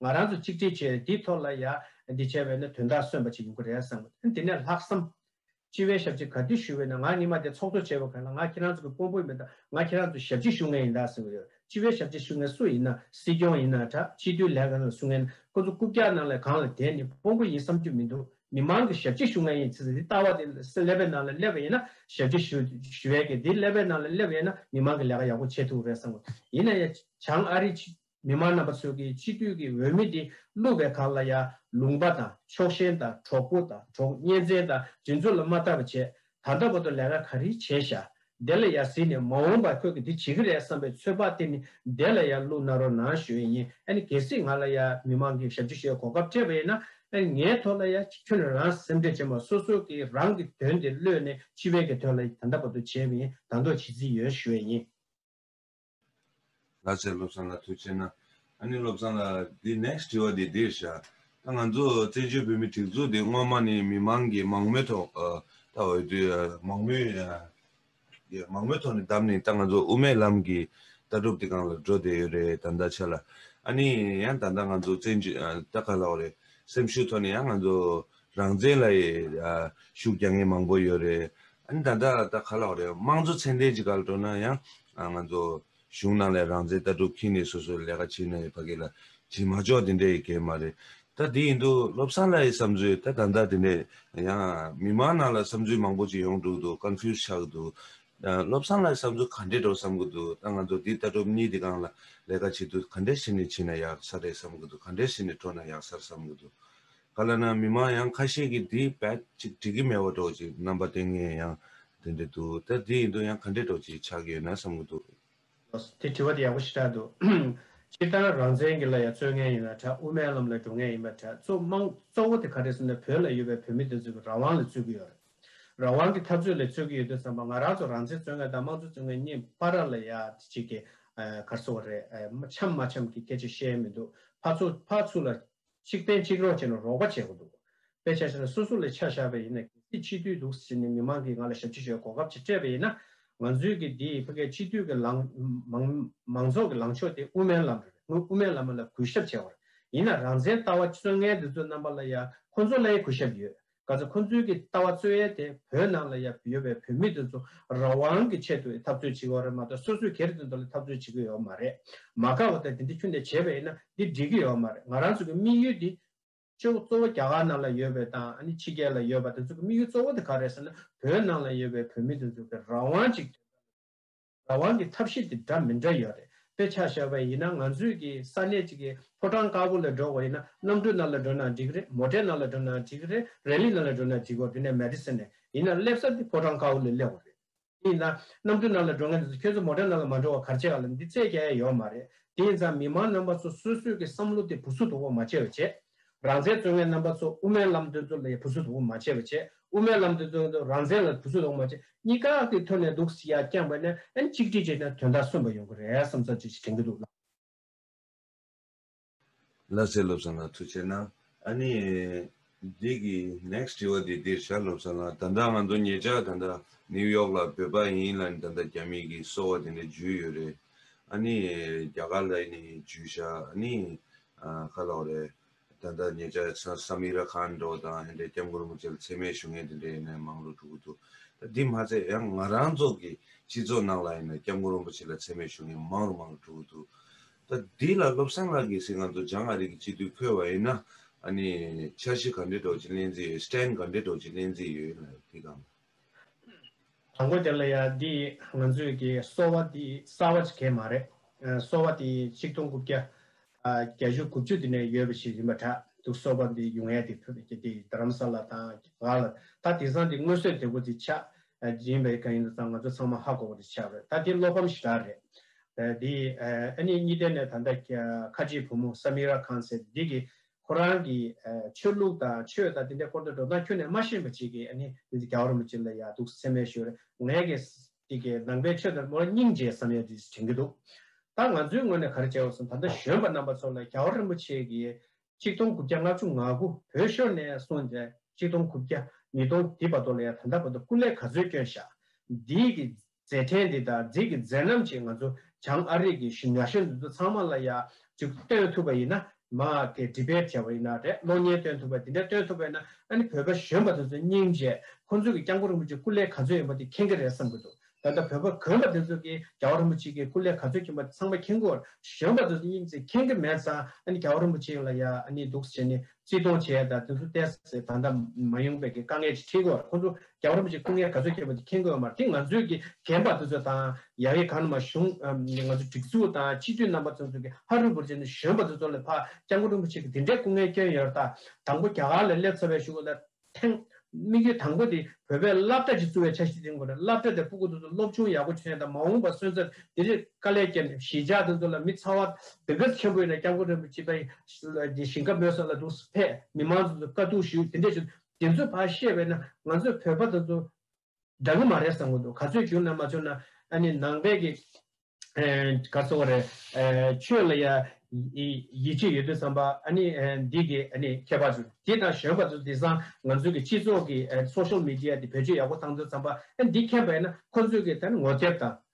ང་རང་ཚོ་གཅིག་སྒྲིལ་བྱས་ནས་འདིའི་ཐོག་ལ་ཡ་འདི་བྱས་པས་ན་དོན་དག་སོན་པ་ཅིག་ཡོང་གི་རེད་བསམ། དེ་ནས་ལྷག་བསམ། སྤྱི་བའི་ཞབས་ཕྱི་ག་དུས་ཞུ་འོས་ན་ང་གཉིས་མ་དེ་ཚོགས་གཙོ་བྱས་པ་ག་ལ་ང་ཁྱེད་རང་ཚོ་གི་དཔོན་པོ་མིན་ད་ང་ཁྱེད་རང་ཚོ་ཞབས་ཕྱི་ཞུ་མཁན་ཡིན་ད་བསམ་གི་ཡོད་སྤྱི་བའི་ཞབས་ཕྱི་ཞུ་མཁན་སུ་ཡིན་ན་སྲིད་སྐྱོང་ཡིན་ན་དྲ་སྤྱི་འཐུས་ལས་ག་རང་ལ་ཞུ་མཁན་ཁོ་ཚོ་རྐུབ་བཀྱག་ནང་ལས་གང་ལ་དེ་ནི་དཔོན་པོ་ཡིན་བསམ་རྒྱུ་མི་འདུག་མི་མང་གི་ཞབས་ཕྱི་ཞུ་མཁན་ཡིན་ཚེ་འདི་ལྟ་བ་དེ་ཀླད་པའི་ནང་ལ་སླེབས་པ་ཡིན་ན་ཞབས་ཕྱི་ཞུ་ཞུ་ཡས་ཀྱི་འདི་ཀླད་པའི་ནང་ལ་སླེབས་ཡས་ན་མི་མང་གི་ལས་ཀ་ཡག་པོ་བྱེད་ཐུབ་གི་རེད་བསམ། ཡིན་ན་ཡང་བྱང་ཨ་རི་ཕྱི། མི་མང་རྣམ་པ་ཚོས་ཀྱི་སྤྱི་འཐུས་ཀྱི་འོས་མི་འདི་བསླུ་བའི་གར་ལ་ཡང་ལུང་པ་དང་ཕྱོགས་ཞེན་དང་གྲོགས་པོ་དང་གྲོགས་གཉེན་བཙན་དང་སྒྲིག་འཛུགས་ལ་མ་ལྟ་བ་བྱས་ད་ལྟ་བར་དུ་ལས་ཀ་ག་རེ་བྱས་བཞག་དེ་ལ་ཡང་གཟིགས་ནས་མ་འོངས་པར་ཁོས་ཀྱི་འདི་བྱེད་ཀྱི་རེད་བསམ་པའི་ཚོད་དཔག་དེ་ནི་བདེ་ལ་ཡང་བསླུ་ན་རོ་ན་ཞོན་ཡིན་ཨ་ནི་གལ་སྲིད་ང་ལ་ཡང་མི་མང་གི་ཞབས་ཕྱི་ཞེས་གོ་སྐབས་སྤྲད་པ་ཡིན་ན་ཨ་ནི་ངའི་ཐོག་ལ་ཡང་ཁྱོད་ནས་རང་སེམས་ཁྲལ་བྱེད་མ་སོ་སོ་ཀྱི་རང་གི་དོན་དེ་བསླུས་ནས་སྤྱི་བའི་གི་དོན་ལ་ད་ལྟ་བར་དུ་བྱས་མིན་དང་དོག་བྱེད་རྩིས་ཡོད་ཞོན་ཡིན། ལྷ་སའི་བློ་བཟང་ལ་ཐུགས་ཆེ་ན། ཨ་ནི་བློ་བཟང་ལགས་འདི next དྲི་བ་འདི་འདིར་བཞག་ད་ང་ཚོ་བཙན་བྱོལ་བོད་མི་སྒྲིག་འཛུགས་འདི་སྔོན་མ་ནི་མི་མང་གི་མང་མོས་ཐོག་ད་འོས་བསྡུ་མང་མོས་མང་མོས་ཐོག་ནས་བདམས་ནས་ད་ང་ཚོ་དབུ་མའི་ལམ་གྱི་ལྟ་གྲུབ་འདི་གང་ལ་འགྲོ་བསྡད་ཡོད་རེད་ད་ལྟ་ཆ་ལ་ཨ་ནི་ཡང་ད་ལྟ་ང་ཚོ་བཙན་བྱོལ་ད་ག་ལ་བ་རེད་སེམས་ཤུགས་ཐོག་ནས་ཡང་ང་ཚོ་རང་བཙན་ལ་ཡི་ཤུགས་རྒྱག་མཁན་མང་པོ་ཡོད་རེད། ཨ་ནི་ད་ལྟ་ད་ག་ལ་བ་རེད། དམངས་གཙོ་ཚད་ལྡན་གྱི་ག་ལ་འགྲོ་ན་ཡང་ང་ཚོ་གཞུང་ནང་ལས་རང་བཙན་ལྟ་གྲུབ་ཁྱིན་ནས་སོ་སོས་ལས་ཀ་བྱེད་ན་ཡི་ཕ་གི་ལ་བྱེད་མ་ཆོག་དེ་འདྲས་ཡི་གལ་མ་རེད། ད་དེ་ཡིན་དུ་བློ་བཟང་ལ་ཡི་བསམ་ཚུལ་ད་ད་འདྲ་དེ་འདྲས་ཡང་མི་མང་ནང་ལ་བསམ་ཚུལ་མང་པོ་ཅིག་ཡོང་འདུག་འདུག confuse ཆགས་གི་འདུག་བློ་བཟང་ལ་ཡི་བསམ་ཚུལ་ག་འདྲས་འགྲོ་བསམ་གི་འདུག་ད་ང་ཚོ་དེ་ལྟ་གྲུབ་གཉིས་དེ་གང་ལ་ལས་ཀ་བྱེད་དུས་ག་འདྲས་བྱེད་ནས་བྱེད་ན་ཡག་ས་རེད་བསམ་གི་འདུག་ག་འདྲས་བྱེད་ནས་འགྲོ་ན་ཡག་སར་བསམ་གི་འདུག་ག་ལ་ན་མི་མང་ཡང་ཁ་ཤས་ཀྱིས་འདི་བེད་ཅིག་འགྲིག་གི་མེད་བ་འདྲོག་ཅིག་རྣམ་པ་དེ་ངས་ཡང་དེ་འདྲ་འདུག་ད་འདི་ཡིན་དུ་ཡང་ག་འདྲས་འགྲོག་ཅིག་ཆགས་ཀྱི་ཡོད་ན་བསམ་གི་འདུག། དེ་དྲི་བ་དེ་ཡག་པོ་ཞེ་དྲག་འདུག། སྤྱིར་བཏང་རང་བཙན་གྱི་ལ་ཡ་རྩོད་མཁན་ཡིན་ན་གྲྭ་དབུ་མའི་ལམ་ལ་འགྲོ་མཁན་ཡིན་པ་གྲྭ་གཙོ་དམངས་གཙོ་བོ་དེ་ག་རེད་ཟེར་ན་བོད་ལ་ཡོད་པའི་བོད་མི་དེ་ཚོ་གི་རང་དབང་ལ་རྩོད་ཀྱི་ཡོད་རེད། རང་དབང་གི་འཐབ་རྩོད་ལ་རྩོད་ཀྱི་ཡོད་དུས་བསམ་པ་ང་རང་ཚོ་རང་བཙན་རྩོད་མཁན་དང་དམངས་གཙོ་རྩོད་མཁན་གཉིས་པ་ར་ལ་ཡ་དེ་གཅིག་གི་གར་སོ་བ་རེད་འཆམ་མ་འཆམ་གྱི་སྐད་ཆ་བཤད་མི་འདུག་ཕ་ཚོ་ཕ་ཚུ་ལ་གཅིག་བསྟེན་གཅིག་རོགས་བྱས་ན་རོགས་པ་བྱས་པོ་འདུག་དཔེ་ཆ་ཞིག་ལ་སོ་སོ་ལས་ཆ་བཞག་པས་ཡིན་ན་གལ་སྲིད་ཕྱི་དུས་འདུག་ཟེར་ནས་མི་མང་གིས་ང་ལ་ཞབས་ཕྱི་ཞུ་བའི་གོ་སྐབས་ཅིག་སྤྲད་པས་ཡིན་ན་ང་ཚོའི་གི་འདིའི་ཕ་གའི་ཕྱི་དུས་གི་ལང་མང་མང་ཚོགས་གི་ལང་ཕྱོགས་དེ་དབུ་མའི་ལམ་རེད་ངོས་དབུ་མའི་ལམ་མ་ལ་གུས་ཞབས་བྱས་བར་ཡིན་ན་རང་བཙན་ལྟ་བ་བསོད་མངལ་འདི་ཚོ་རྣམ་པ་ལ་ཡང་ཁོ་ཚོ་ལའི་གུས་ཞབས་ཡོད་ག་ཚོད་ཁོ་ཚོའི་གི་ལྟ་བ་རྩོད་ཡལ་དེ་བོད་ནང་ལ་ཡབ་ཡོད་པའི་བོད་མི་དེ་ཚོ་ར་བང་གི་ཆེད་དུ་ཡི་འཐབ་རྩོད་བྱེད་གི་ཡོད་རེད་མ་གཏོགས་སོ་སོའི་གེར་དེ་ཚོ་ལ་འཐབ་རྩོད་བྱེད་གི་ཡོད་མ་རེད་མ་དགའ་བ་དང་དེ་འདི་ཁྱོད་འདི་བྱས་པ་ཡིན་ན་འདི་འགྲིག་གི་ཡོད་མ་རེད་ང་རང་ཚོ་གི་དམིགས་ཡུལ་དེ། གཅོ་གཙོ་བོ་རྒྱ་གར་ནང་ལ་ཡོད་པའི་དང་ཨ་ནི་ཕྱི་རྒྱལ་ལ་ཡོད་པ་དེ་ཚོ་གི་དམིགས་ཡུལ་གཙོ་བོ་དེ་ག་རེད་ཟེར་ན་བོད་ནང་ལ་ཡོད་པའི་བོད་མི་དེ་ཚོ་གི་ར་བང་ཅིག་དེ་ཚོ་ལ། རང་དབང་གི་ཐབས་ཤེས་དེ་འདྲ་མི་འདྲ་ཡོད་རེད་དཔེ་ཆ་ཞག་པའི་ཡིན་ན་ང་ཚོས་ཀྱི་ས་གནས་ཅིག་གི་ཕོ་བྲང་དཀར་པོ་ལ་འགྲོ་བ་ཡིན་ན་གནམ་གྲུ་ནང་ལ་འགྲོ་ན་འགྲིག་རེད་མོ་ཏྲའི་ནང་ལ་འགྲོ་ན་འགྲིག་རེད་རལ་ལི་ནང་ལ་འགྲོ་ན་འགྲིག་གོ་དེ་ནས་མལ་ཏི་སི་ནས་ཡིན་ན་སླེབས་ས་དེ་ཕོ་བྲང་དཀར་པོ་ལ་སླེབས་བ་རེད་དེ་ཡིན་ན་གནམ་གྲུ་ནང་ལ་འགྲོ་མཁན་དེ་ཚོ་ཁྱོད་ཚོ་མོ་ཏྲའི་ནང་ལ་མ་འགྲོ་བར་གར་བྱེད་ག་ལ་འདི་ཚད་ཀྱ་ཡ་ཡོད་མ་རེད་དེ་ཡིན་ཙང་མི་མང་རྣམ་པ་ཚོ་སོ་སོས་ཀྱི་བསམ་བློ་དེ་བུ་སུ་དོ་བོ་མ་བྱས་བ་བྱས། རང་བཙན་རྩོད་མཁན་རྣམ་པ་ཚོ་དབུ་མའི་ལམ་སྟོན་ཚོ་ལ་བུ་སུད་དབུ་མ་ཆེ་བ་ཆེ་དབུ་མའི་ལམ་སྟོན་ཚོ་ལ་རང་བཙན་ལ་བུ་སུད་དབུ་མ་ཆེ་གཉིས་ཀ་གི་ཐོད་ནས་འདུག་སྲིད་ཡ་རྐྱང་པ་ནས་ཨན་གཅིག་སྒྲིལ་བྱས་ན་དོན་དག་སོན་པ་ཡོང་གི་རེད་བསམ་བསམ་བྱེད་བྱེད་དྲན་གི་འདུག་ལགས། ལ་ཚེ་བློ་བཟང་ལགས་ཐུགས་ཆེ་གནང། ཨ་ནི། འདི་གི next དྲི་བ་དེ་འདིར་བཞག་བློ་བཟང་ལགས་ད་ལྟ་ང་ཚོ་ངེད་ཅག་ད་ལྟ New York ལ་བོད་པ་ཡིན་ལ་ནི་ད་ལྟ་རྒྱ་མི་གི་སོ་བ་དེ་འདྲ་འཇུས་ཡོད་རེད། ཨ་ནི། རྒྱ་གར་ལ་ཡི་ནི་འཇུས་བཞག་ཨ་ནི། ཁ་ལག་རེད། ད་ལྟ་ཉེ་ཆར་སཱ་མི་ར་ཁཱན་འགྲོ་བ་དང་ཧན་ཏའི་སྐྱབས་མགོན་རིན་པོ་ཆེ་ལ་འཚེ་མེད་ཞུ་མཁན་དེ་འདྲའི་ཡིན་ནའི་མང་ལོ་དྲུག་གོ་འདུག་ད་འདི་མ་ཚད་ཡང་ང་རང་ཚོ་གི་སྤྱི་ཚོགས་ནང་ལ་ཡིན་ནའི་སྐྱབས་མགོན་རིན་པོ་ཆེ་ལ་འཚེ་མེད་ཞུ་མཁན་མང་རུ་མང་རུ་དྲུག་གོ་འདུག་ད་འདི་ལ་བློ་བཟང་ལགས་ཀྱིས་ཟེར་ང་ཚོ་འཇང་ཨ་རིག་གི་སྤྱི་འཐུས་འཁོད་བ་ཡིན་ན་ཨ་ནི་འཆར་གཞི་ག་འདྲའི་གྲོགས་ཀྱི་གླེང་རྩིས་ཡོད། stand ག་འདྲའི་གྲོགས་ཀྱི་གླེང་རྩིས་ཡོད་ཡིན་ལ་དེ་གང་དང། དང་པོ་དེ་ལ་ཡང་འདི་ང་ཚོས་ཀྱི་གསོ་བ་འདི་གསར་བ་ཞིག་མ་རེད། གསོ་བ་འདི་ཆིག་སྟོང་དགུ་བརྒྱ་བརྒྱ་ཞོ་དགུ་བཅུ་དེ་ནས་ཡོད་པ་ཞིག་ཡིན་པ་འདྲ་འདུག་གསོ་བ་འདི་ཡུལ་ངལ་དེ་ཕུད་ཀྱི་འདི་རྡ་རམ་ས་ལ་དང་གྷ་ལ་ད་དེང་སང་འདི་དངོས་གསོས་དེ་པོ་འདི་ཆགས་ཡིན་པའི་ག་ཡིན་དུ་ཙང་ང་ཚོ་ཚང་མ་ཧ་གོ་བ་དེ་ཆགས་རེད་ད་འདི་བློ་ཕམ་ཞིག་རག་རེད། འདི་ཨ་ནི་གཉིས་ལྡན་ནས་ད་འདའ་ཁ་ཆེའི་བུ་མོ་སམིར་ར་ཁཱན་ཟེར་འདི་གི་ཁོ་རང་གི་ཆོས་ལུགས་དང་ཆོས་དང་དེ་འདྲའི་སྐོར་དུ་འགྲོ་སྟངས་ཁྱོན་ནས་མ་ཤེས་པ་ཅིག་གིས་ཨ་ནི་དེ་འདྲའི་གའུ་རིན་པོ་ཆེ་ལ་ཡག་སྡུག་སེམས་མེད་ཞོར་ངས་ཀྱི་ཀྱི་ཀྱི་ནང་པའི་ཆོས་དང་པོ་སྙིང་རྗེ་བསམ་ཡས་དེས་དྲན་གྱི་འདུག་ད་ང་ཚོའི་ངོས་ནས་ག་རེ་བྱས་འོས་སམ་ད་ལྟ་གཞོན་པ་རྣམ་པ་ཚོ་ལ་གའུ་རིན་པོ་ཆེ་གིས་གཅིག་སྟོང་དགུ་བརྒྱ་ལྔ་བཅུ་ང་དགུ་བོད་ཤོར་ནས་སོང་ཏེ་གཅིག་སྟོང་དགུ་བརྒྱ་ཉིས་སྟོང་དེའི་བར་དོ་ལ་ཡང་ད་ལྟ་བར་དུ་སྐུ་ལས་ག་ཚོད་བསྐྱོན་བཞག་འདིའི་ཀྱི་མཛད་འཕྲིན་འདི་དང་འགྲིག་གི་མཛད་རྣམ་ཅིག་ང་ཚོ་བྱང་ཨ་རིག་གི་ཞིང་ཉག་ཤོད་འདི་ཚོ་ཚང་མ་ལ་ཡང་ཅིག་སྟོན་ཐུབ་པ་ཡིན་ན་མ་དེ Debate བྱས་པ་ཡིན་ན་རེད་གློག་བརྙན་སྟོན་ཐུབ་པ་དེ་འདྲ་སྟོན་ཐུབ་པས་ན་ཨ་ནི་བོད་པ་གཞོན་པ་དེ་ཚོ་སྙིང་རྗེ་ཁོང་ཚོ་གི་སྐྱབས་མགོན་རིན་པོ་ཆེ་སྐུ་ལས་ག་ཚོད་ཡིན་པ་དེ་མཁྱེན་གི་རེད་བསམ་གི་འདུག་ད་ལྟ་བོད་པ་གོན་པ་དེ་ཚོ་གི་རྒྱ་བོ་རིན་པོ་ཆེ་གི་སྐུ་ལས་ག་ཚོད་ཁྱིན་པ་དེ་ཚང་མ་མཁྱེན་གོ་གཞོན་པ་དེ་ཚོ་སྙིང་རྗེ་མཁྱེན་གི་མེད་ཙང་ཨ་ནི་རྒྱ་བོ་རིན་པོ་ཆེ་ཡིན་ལ་ཡང་ཨ་ནི་འདུག་ཟེར་ནི་རྩིས་གཏོང་བྱས་དང་དུས་སུ་ཏེ་སི་ཐན་དང་མ་ཡུང་བེ་གི་དཀའ་ངལ་ཅིག་འཕྲད་དགོས་ལ་ཁོ་ཚོ་རྒྱ་གར་བ་ཅིག་སྐུ་ངལ་ག་ཚོད་ཁྱེར་བ་དེ་མཁྱེན་དགོས་ཡོད་མ་རེད་དེ་ང་ཚོའི་གི་རྒན་པ་དེ་ཚོ་དང་ཡ་ཡི་ག་ནུ་མ་གཞུང་གི་ང་ཚོའི་སྒྲིག་འཛུགས་དང་སྤྱི་འཐུས་རྣམ་པ་ཚོ་ཚོ་གི་ཧ་རུ་བུར་ཅི་ནུ་གཞོན་པ་དེ་ཚོ་ལ་ཕ་སྐྱག་མགོ་སྤྲུག་མི་ཆེ་གི་དེ་འདྲའི་སྐུ་ངལ་སྐྱོན་ཡོད་ར་ད་དང་པོ་རྒྱ་གར་ལ་སླེབས་ཚར་བའི་ཞུ་གི་ལ་ཐེངས། དམིགས་ཡུལ་དང་པོ་དེ་བོད་པའི་སླབ་གྲྭ་ཞིག་བཙུགས་བའི་ཆ་ཞིག་འཛིན་དགོས་རེད་སླབ་གྲྭ་དེ་སྤུ་གུ་དེ་ཚོ་སློབ་ཆུང་ཡག་པོ་བྱས་དང་མ་འོངས་པར་སོན་ཚར་དེ་རིགས་དཀའ་ལས་བསྐྱལ་ནས་གཞིས་ཆགས་དེ་ཚོ་ལ་མི་ཚ་བ་སྡིག་གིར་ཆེན་པོ་ཡོད་ན་སྐྱབས་མགོན་རིན་པོ་ཆེ་དང་ཡི་ཞིང་ཁ་མོས་སོགས་ལ་དུག་སེལ་ཐད་མི་མང་དེ་ཚོ་དཀའ་སྡུག་ཞུ་དེ་འདྲས་བྱུང་དེ་ཚོའི་བར་བཤད་པས་ན་ང་ཚོས་བོད་པ་དེ་ཚོ་དགྲ་ངོ་མ་རེད་བསམ་གྱི་འདུག་ག་ཚོད་བྱུང་ན་མ་བྱུང་ན་ཨ་ནི་ནང་པའི་གི་ག་སོང་བ་རེད་ཆོས་ལ་ཡ་ཡིད་ཆེས་ཡོད་དུས་བསམ་པ་ཨ་ནི་འདི་གི་ཨ་ནི་ཁྱད་པར་ཚོ་དེ་དང་གཞོན་པ་ཚོ་དེ་སང་ང་ཚོའི་གི་སྤྱི་ཚོགས་གི Social Media དེ་བེད་སྤྱོད་ཡག་པོ་བཏང་དུས་བསམ་པ་ཨ་ནི་འདི་ཁྱད་པར་ཡིན་ན་ཁོ་ཚོའི་གི་ད་ནི་ངོ་དེབ་དང།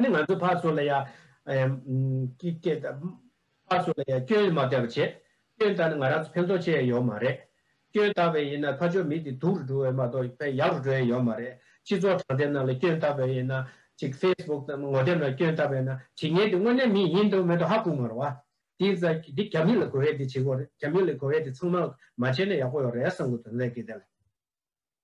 ནི་ང་ཚོའི་ཕར་ཚུར་ལ་ཡང། ཕར་ཚུར་ལ་ཡང་སྐྱོན་མ་བལྟ་བར་བྱས། སྐྱོན་བལྟ་ན་ང་རང་ཚོ་ཕན་ཐོགས་ཆེ་ཡ་ཡོད་མ་རེད། སྐྱོན་བལྟ་བས་ཡིན་ན་ཕ་ཆོས་མི་དེ་སྡུག་རུ་འགྲོ་བས་མ་གཏོགས་ཕན་ཡག་རུ་འགྲོ་ཡ་ཡོད་མ་རེད། སྤྱི་ཚོགས་དྲང་བདེན་ནང་ལ་སྐྱོན་བལྟ་བས་ཡིན་ན། ཅིག Facebook དང་ངོ་དེབ་ནང་སྐྱོན་བལྟ་བས་ན་བྱེད་ངན་དེ་དངོས་གནས་མི་ཡིན་འདུག་མེད་འདུག་ཧ་གོ་མ་རུང་བ། དེ་ཚ་དེ་རྒྱ་མི་ལ་གོ་བས་དེ་བྱེད་དགོས་རེད་རྒྱ་མི་ལ་གོ་བས་དེ་ཚང་མ་མ་བྱས་ན་ཡག་པོ་ཡོད་རེད་བསམ་གོ་དོན་ལེགས་ཀི་དེ་ལ།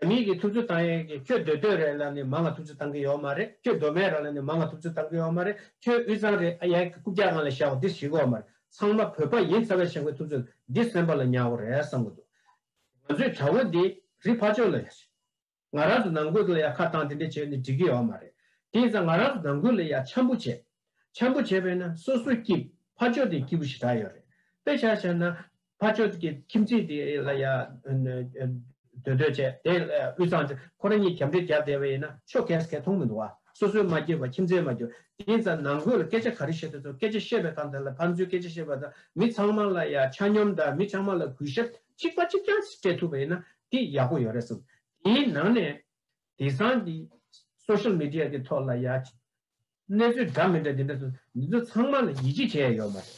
རྒྱ་མིའི་གིས་ཐུབ་ཚོད་བཏང་ཡོད་གི་ཁྱོད་འདོད་འདོད་རེད་ལ་ནི་མ་ང་ཐུབ་ཚོད་བཏང་གི་ཡོག་མ་རེད་ཁྱོད་མདོ་མེད་ར་ལ་ནི་མ་ང་ཐུབ་ཚོད་བཏང་གི་ཡོག་མ་རེད་ཁྱོད་དབུས་གཙང་རེད་ཨ་ཡའི་གི་རྐུབ་བཀྱག་ང་ལ་བཞག་གོ་འདི་ཞིག་གོ་མ་རེད་ཚང་མ་བོད་པ་ཡིན་ཚ་བས་ཤང་གི་ཐུབ་ཚོད་འདི་སེམས་པ་ལ་ཉག་གོ་རེད་བསམ་གི་འདུག་ང་ཚོས་བྱ་བོ་འདི་རི་ཕ་ཅོ་ལ་ཡ་བྱས་ང་རང་ཚོ་ནང་ཁུལ་དུ་ལ་ཡ་ཁ་བཏང་དེ་འདྲས་བྱས་ནི་འགྲིག་གི་ཡོག་མ་རེད་དེ་ཡིན་ཙང་ང་རང་ཚོ་ནང་ཁུལ་ལ་ཡ་འཆམ་པོ་བྱས་འཆམ་པོ་བྱས་པས་ན་སོ་སོའི་སྐྱིབ་ཕ་ཅོ་དེ་སྐྱིབ་པོ་ཞིག་གྲག་ཡོད་རེད་དཔེ་ཆ་བྱས་ན། ཕ་ཆོས་ཀྱི་ཁྱིམ་མཚེས་དེ་ལ་ཡང་འདོད་འདོད་བྱས་དེ་དབུས་གཙང་ཆུ་ཁོ་ར་གཉིས་གྱམ་དྲི་རྒྱབ་བསྡད་པ་ཡིན་ན་ཆོས་གས་གས་མཐོང་མི་འདུག་བ་སོ་སོའི་མ་སྐྱེས་པ་ཁྱིམ་མཚེས་མ་གྱུར་དེ་ཡིན་ཙང་ནང་དགོས་ལ་སྐད་ཆ་ག་རེ་བཤད་དུས་ཚོར་སྐད་ཆ་བཤད་པའི་སྐབས་འདི་ལ་ཕར་འཛུལ་སྐད་ཆ་བཤད་པ་དང་མི་ཚང་མ་ལ་ཡང་ཆ་སྙོམས་དང་མི་ཚང་མ་ལ་གུས་ཞབས་གཅིག་པ་གཅིག་རྐྱང་སྤྲད་ཐུབ་པ་ཡིན་ན་དེ་ཡག་པོ་ཡོད་རེད་བསམ། དེའི་ནང་ནས་དེང་སང་གི Social Media གི་ཐོག་ལ་ཡང། གནས་ཚུལ་འདྲ་མི་འདྲ་དེ་འདྲ་ཚོ་འདི་ཚོ་ཚང་མ་ལ་ཡིད་ཆེས་བྱས་ཡོད་མ་རེད།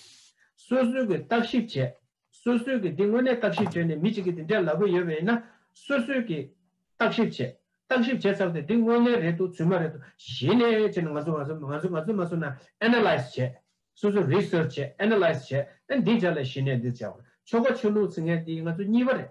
སོ་སོའི་གི་བརྟག་ཞིབ་བྱས། སོ་སོའི་གི་འདི་དངོས་གནས་བརྟག་ཞིབ་བྱས་ནས་མི་གཅིག་གི་དེ་འདྲས་ལབ་གི་ཡོད་པ་ཡིན་ན་སོ་སོའི་གི་བརྟག་ཞིབ་བྱས། བརྟག་ཞིབ་བྱས་ཚར་ཏེ་འདི་དངོས་གནས་རེད་དུ་ཚུལ་མ་རེད་དུ་གཞི་ནས་བྱས་ན་ང་ཚོ་ང་ཚོ་ང་ཚོ་ང་ཚོས་ང་ཚོ་ན Analyse བྱས། སོ་སོས Research བྱས Analyse བྱས་ཨེ་འདི་བྱས་ལ་གཞི་ནས་འདི་བྱས་བ་ཆོལ་ཁ་ཆོས་ལུགས་ཚིག་ངན་འདི་ང་ཚོ་གཉིས་པ་རེད།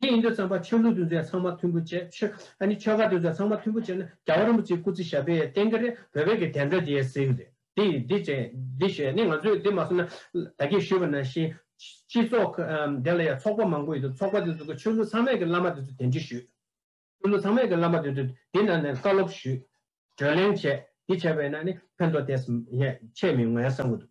དེ་ཡིན་དུས་བརྩམས་པ་ཆོས་ལུགས་འདུལ་མཛད་ཚང་མ་མཐུན་པོ་བྱེད། ཆོས་ཁ་འདུལ་མཛད་ཚང་མ་མཐུན་པོ་བྱེད་ན་རྒྱ་བ་རིན་པོ་ཆེའི་སྐུ་ཚེ་ཞབས་པད་བརྟན་གྱི་རེད་བོད་པའི་གི་དན་རྡོ་རྗེ་ཟེར་གྱི་རེད་དེ་ཡིན་འདི་བྱེད་འདི་བྱེད་ནི་ང་ཚོས་འདི་མ་བཟོ་ན། ད་གིས་ཞུས་པ་ནང་བཞིན། སྤྱི་ཚོགས་འདི་ལ་ཡང་ཚོགས་པ་མང་པོ་ཡོད་དུས་ཚོགས་པ་དེ་ཚོ་གི་ཆོས་ལུགས་ཚང་མས་གི་བླ་མ་དེ་ཚོ་དེ་འདྲི་ཞུས། ཆོས་ལུགས་ཚང་མས་གི་བླ་མ་དེ་ཚོ་དེ་ནང་ནས་བཀའ་སློབ་ཞུས། བགྲོས་གླེང་བྱས་དེ་བྱས་པས་ན་ནི་ཕན་ཐོག་དེ་ཆེས་མི་ངོ་ཡང་བསམ་གྱི་འདུག།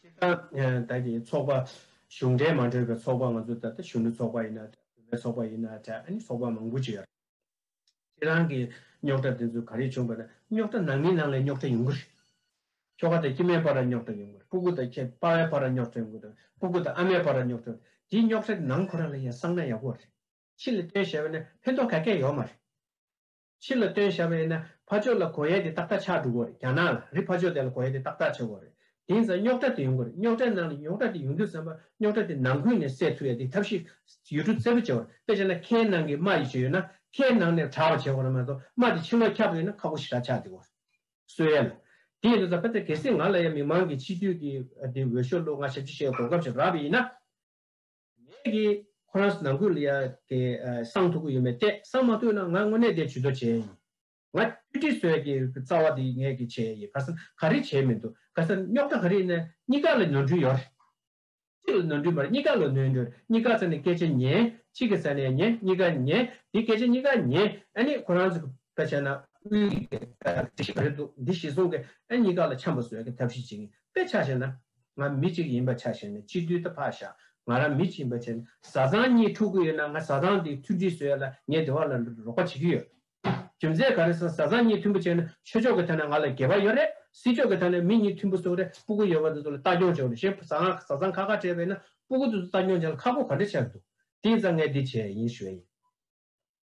སྤྱིར་བཏང་ད་གི་ཚོགས་པ་གཞུང་འབྲེལ་མ་གྲོས་པའི་ཚོགས་པ་ང་ཚོ་ད་ལྟ་གཞོན་ནུ་ཚོགས་པ་ཡིན་ན་འདྲ་བུད་མེད་ཚོགས་པ་ཡིན་ན་འདྲ་ཨ་ནི་ཚོགས་པ་མང་པོ་ཅི་ཡོད་རེད། ཁྱེད་རང་གི་རྙོག་དྲ་དེ་ཚོ་ག་རེད་བྱུང་བ་ན་རྙོག་དྲ་ནང་མི་ནང་ལས་རྙོག་དྲ་ཡོང་གི་རེད། ཁྱོ་ག་དང་ཁྱི་མའི་བར་ར་རྙོག་དྲ་ཡོང་གི་རེད་སྤུ་གུ་དང་ཁྱེད་དཔའ་བའི་བར་ར་རྙོག་དྲ་ཡོང་གི་རེད་སྤུ་གུ་དང་ཨ་མའི་བར་ར་རྙོག་དྲ་ཡོང་དེའི་རྙོག་དྲ་དེ་ནང་ཁོ་རང་ལ་ཡང་གསང་ན་ཡག་པོ་རེད་ཕྱི་ལ་སྟོན་ཞེས་པ་ནི་ཕན་ཐོག་ག་གེ་ཡོད་མ་རེད། ཕྱི་ལ་སྟོན་ཞབས་ཨེ་ན་ཕ་ཆོས་ལ་གོ་ཡས་དེ་ཏག་ཏག་ཆགས་འགྲོ་གོ་རེད་རྒྱ་ནག་ལ་རི་ཕ་ཆོས་དེ་ལ་གོ་ཡས་དེ་ཏག་ཏག་ཆགས་གོ་རེད་དེང་སང་རྙོག་དྲ་དེ་ཡོང་གོ་རེད་རྙོག་དྲའི་ནང་ལ་ཡོངས་གྲ་དེ་ཡོང་དུས་བསམ་པ་རྙོག་དྲ་དེ་ནང་ཁུལ་ནས་སེལ་ཐུབ་ཡས་དེ་ཐབས་ཤེས་ཡུལ་གྲུ་བཙལ་པོ་བྱེད་གོ་རེད་དཔེ་བྱས་ན་ཁའི་ནང་གི་རྨ་ཡི་བྱེད་ཡོད་ན་ཁའི་ནང་ནས་དྲ་བ་བྱེད་གོ་རེད་མ་གཏོགས་རྨ་དེ་ཕྱི་ལོག་ཁྱབ་ཡོད་ན་ཁ་ཁོ་ཞི་དྲག་ཆགས་དེ་གོ་རེད་གསོལ་ཡས་ལ་དེ་ཡིན་དུས་ད་ཕ་ཚ་གལ་སྲིད་ང་ལ་ཡ་མི་མང་གི་སྤྱི་འཐུས་ཀྱི་དེ་འོས་ཤོག་བླུག་ང་ཞབས་ཕྱི་ཞེས་གོ་སྐབས་ཞིག་རག་པའི་ཡིན་ན། ངས་ཀྱི། ཁོ་རང་ནང་ཁུལ་ལ་ཡ་གི་གསང་ཐུབ་ཀྱི་ཡོད་མེད་བལྟས་གསང་མ་ཐུབ་ན་ང་དངོས་གནས་དེ་ཇུས་གཏོགས་བྱས་ཡིན། ང་བཀྲིས་བཀྲིས་བཟོས་ཀྱི་རྩ་བ་དེ་ངས་ཀྱི་བྱས་ཡིན་ག་ས་ག་རེ་བྱས་མི་འདུག་ག་ས་རྙོག་དྲ་ག་རེ་ཡིན་ན་གཉིས་ཀ་ལ་ནོར་འཁྲུལ་ཡོད་རེད། གཅིག་ལ་ནོར་འཁྲུལ་མ་རེད་གཉིས་ཀ་ལ་ནོར་འཁྲུལ་གཉིས་ཀ་ས་ནས་སྐད་ཆ་ཉན་གཅིག་གི་ས་ནས་ཉན་གཉིས་ཀ་ཉན་དེ་སྐད་ཆ་གཉིས་ཀ་ཉན་ཨ་ནི་ཁོ་རང་ཚོ་ག་བྱས་ན་དབུས་གཞི་ག་རེ་འདུག་འདི་གཞི་བཟུང་གི་ཨ་གཉིས་ཀ་ལ་འཆམ་པ་བཟོས་ཀྱི་ཐབས་ཤེས་བྱེད་ཀྱི་དཔེ་ཆ་བྱས་ན་ང་མི་གཅིག་ཡིན་པ་ཆ་བཞག་ནས་སྤྱི་འཐུས་ད་ཕ་བཞག་ང་རང་མི་གཅིག་ཡིན་པ་ཆ་བཞག་བཟའ་ཚང་གཉིས་འཁྲུག་གི་ཡོད་ན་ང་བཟའ་ཚང་དེའི་མཐུན་སྒྲིལ་བཟོས་ཡོད་ལ་ངས་དེ་བ་ལ་རོགས་པ་བྱེད་ཀྱི་ཡོད། རྒྱུ་མཚན་ག་རེ་ཟ་བཟའ་ཚང་གཉིས་མཐུན་པོ་བྱས་ན་ཆོས་ཕྱོགས་ཀྱི་ཐད་ན་ང་ལ་འགལ་བ་ཡོད་རེད་སྲིད་ཕྱོགས་ཀྱི་ཐད་ན་མི་གཉིས་མཐུན་པོ་བཟོ་རེ་སྤུ་གུ་ཡོད་པ་དེ་ཚོ་ལ་ལྟ་སྐྱོང་བྱོས་རེ་ཞེས་བཟའ་ང་བཟའ་ཚང་ཁ་ཁ་བྲལ་བས་ན་སྤུ་གུ་དེ་ཚོ་ལྟ་སྐྱོང་བྱས་ལ་ཁག་པོ་ག་འདྲ་བྱས་ཀྱི་འདུག་དེ་ཡིན་ཙང་ངས་འདི་བྱས་ཡིན་ཞུས་ཡིན།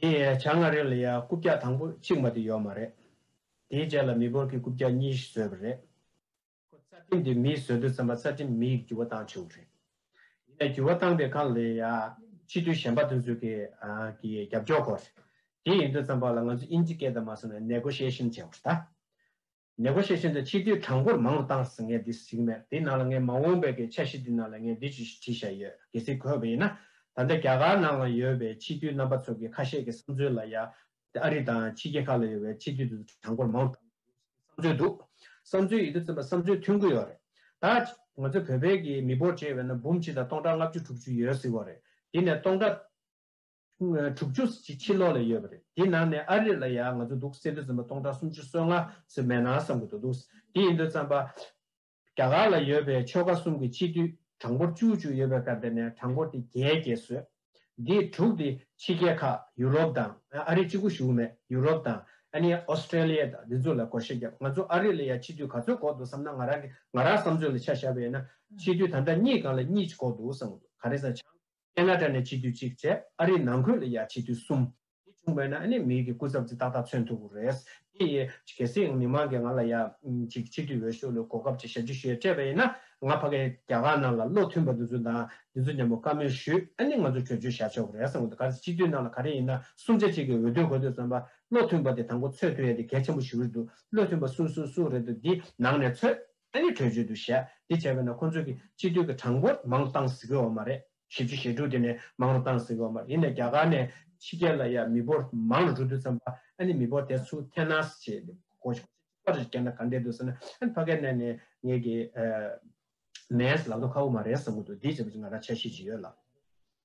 དེ་ཡང་བྱ་ང་རིགས་ལ་ཡང་རྐུབ་བཀྱག་དང་པོ་གཅིག་མ་དེ་ཡོད་མ་རེད། དེའི་རྗེས་ལ་མི་འབོར་གྱི་རྐུབ་བཀྱག་གཉིས་བཟོས་པ་རེད། ཁོ་རྩ་ཁྲིམས་དེ་མིས་བཟོས་འདུག་བསམ་པ་རྩ་ཁྲིམས་མིས་འགྱུར་བ་བཏང་ཆོག་གི་རེད། ཡིན་ནའི་འགྱུར་བ་བཏང་པའི་གང་ལ་ཡང་སྤྱི་འཐུས་གཞན་པ་འདུག་ཚུལ་གྱི་རྒྱབ་སྐྱོར་དགོས་རེད། དེ་ཡིན་དུས་བསམ་པ་ལ་ང་ཚོ་དབྱིན་ཇི་སྐད་དང་མ་སོང་ནས་ནད་གོ་ཤེས་བཞིན་བྱས་བ་རེད། ནས་གོ་ཤེས་ཤིན་ཏུ་ཆེ་དུས་གྲངས་འབོར་མང་དུ་བཏང་ཟིན་ངས་འདི་གཟིགས་མེད་དེའི་ནང་ལ་ངས་མ་འོངས་པའི་གི་འཆར་གཞི་འདི་ནང་ལ་ངས་འདི་ཅི་ཞིག་བྲིས་བཞག་ཡོད་གི་གཟིགས་གོ་བས་ན། ད་ལྟ་རྒྱ་གར་ནང་ལ་ཡོད་པའི་ཕྱི་དུས་རྣམ་པ་ཚོ་གི་ཁ་ཤས་གི་བསམ་ཚུལ་ལ་ཡང། ཨ་རི་དང་ཕྱི་རྒྱལ་ཁག་ལ་ཡོད་པའི་ཕྱི་དུས་དུ་གྲངས་འབོར་མང་དུ་བཏང་ཡོད་གི་བསམ་ཚུལ་འདུག་བསམ་ཚུལ་ཡིད་དུ་འཛིན་པ་བསམ་ཚུལ་མཐུན་གི་ཡོད་རེད་ད། ང་ཚོའི་བོད་པའི་གི་མི་འབོར་བཅས་བས་ན་འབུམ་གཅིག་དང་སྟོང་ཕྲག་ལྔ་བཅུ་དྲུག་ཅུ་ཡོད་གཟིགས་བ་རེད་དེ་ནས་སྟོང་ཕྲག། དྲུག་ཅུ་ཅིག་ཕྱི་ལོག་ལ་ཡོད་པ་རེད་དེའི་ནང་ནས་ཨ་རིར་ལ་ཡང་ང་ཚོ་འདུག་སེ་འདུག་ཟིན་པ་སྟོང་ཕྲག་སུམ་ཅུ་སོ་ལྔ་ཟིན་མེད་ན་བསམ་དགོས་དོ་འདུག་དེ་ཡིན་དུས་བརྩམས་པ། རྒྱ་གར་ལ་ཡོད་པའི་ཆོལ་ཁ་གསུམ་གྱི་སྤྱི་འཐུས་གྲངས་འབོར་བཅུ་བཅུ་ཡོད་པའི་ཁར་དེ་ནས་གྲངས་འབོར་དེ་བརྒྱད་བརྒྱད་བཟོས། འདི་དྲུག་དེ་ཕྱི་རྒྱལ་ཁག་ཡུ་རོབ་དང་ཨ་རི་གཅིག་པུ་བཞུགས་མེད་ཡུ་རོབ་དང་ཨ་ནི Australia དང་འདི་ཚོ་ལ་གོ་ཤེས་བརྒྱབ་ང་ཚོ་ཨ་རི་ལ་ཡང་སྤྱི་འཐུས་ག་ཚོད་གོ་འདུག་བསམ་ན་ང་རང་གི་ང་རང་བསམ་ཚོད་ལ་ཆ་བཞག་པ་ཡིན་ན་སྤྱི་འཐུས་ད་ལྟ་གཉིས་གང་ལ་གཉིས་ཅིག་གོ་འདུག་བསམ་གོ་འདུག་ག་རེ་བསམ་ཆང་ཀན་ལ་ཀྲ་ནས་སྤྱི་འཐུས་གཅིག་བཅས་ཨ་རིའི་ནང་ཁུལ་ལ་ཡང་སྤྱི་འཐུས་གསུམ། དེ་བྱུང་བས་ན་ཨ་ནེ་མིའི་གི་སྐུ་ཚབ་ཙི་ཏག་ཏག་མཚོན་ཐུབ་པོ་རེད། དེ་ཡི་གེ་སྲིད་ཡང་མི་མང་གི་ང་ལ་ཡ། ཅིག་སྤྱི་འཐུས་འོས་ཤོག་ལོའི་གོ་སྐབས་ཅིག་ཞབས་ཕྱི་ཞུ་ཡ་སྤྲད་པ་ཡིན་ན་ང་ཕ་གའི་རྒྱ་གར་ནང་ལ་བློ་མཐུན་པ་འདི་ཚོ་དང་འདི་ཚོ་མཉམ་པོ་བཀའ་མོལ་ཞུས་ཨ་ནེ་ང་ཚོ་བྲོས་བྱོལ་བཞག་ཆོག་གི་རེད་བསམ་གི་འདུག་ག་ཚེ་སྤྱི་འཐུས་ནང་ལ་ག་རེ་ཡིན་ན་གསུམ་ཆ་གཅིག་གི་འོས་བསྡུ་གོ་ཐོས་བསམ་པ་བློ་མཐུན་པ་དེ་དང་པོ་ཚོད་ཐོས་ཡ་དེ་གལ་ཆེན་པོ་ཞུ་རེ་འདུག་བློ་མཐུན་པ་སུ་སུ་སུ་རེད་འདུག་འདི་ནང་ནས་ཚོད་ཨ་ནི་བྲོས་བྱོལ་དུ་བཞད་དེ་བྱས་པས་ན་ཁོ་ཚོས་ཀྱི་སྤྱི་འཐུས་ཀྱི་གྲངས་འབོར་མང་བཏང་ཟིག་གི་འོ་མ་རེད་བཞི་བཅུ་ཞེ་དྲུག་དེ་ནས་མང་རུ་བཏང་ཟིག་གི་འོ་མ་རེད་ཡིན་ནས་རྒྱ་གར་ནས་ཕྱི་རྒྱལ་ལ་ཡ་མི་འབོར་མང་རུ་འགྲོ་དུས་ཙམ་པ་ཨ་ནི་མི་འབོར་དེ་ཚུ་ཐེ་ན་སི་བྱེད་དེ་གོ་ཆོ་ག་རེ་བྱེད་ན་ག་འདྲེ་འདུག་ཟེར་ན་ཨ་ནི་ཕ་གས་ནས་ནས་ངས་ཀྱི། མས་ལག་ཏུ་ཁ་འོ་མ་རེད་བསམ་གི་འདུག་འདི་བྱས་པ་ཅི་ང་རང་ཆ་ཤེས་ཅི་ཡོད་ལ།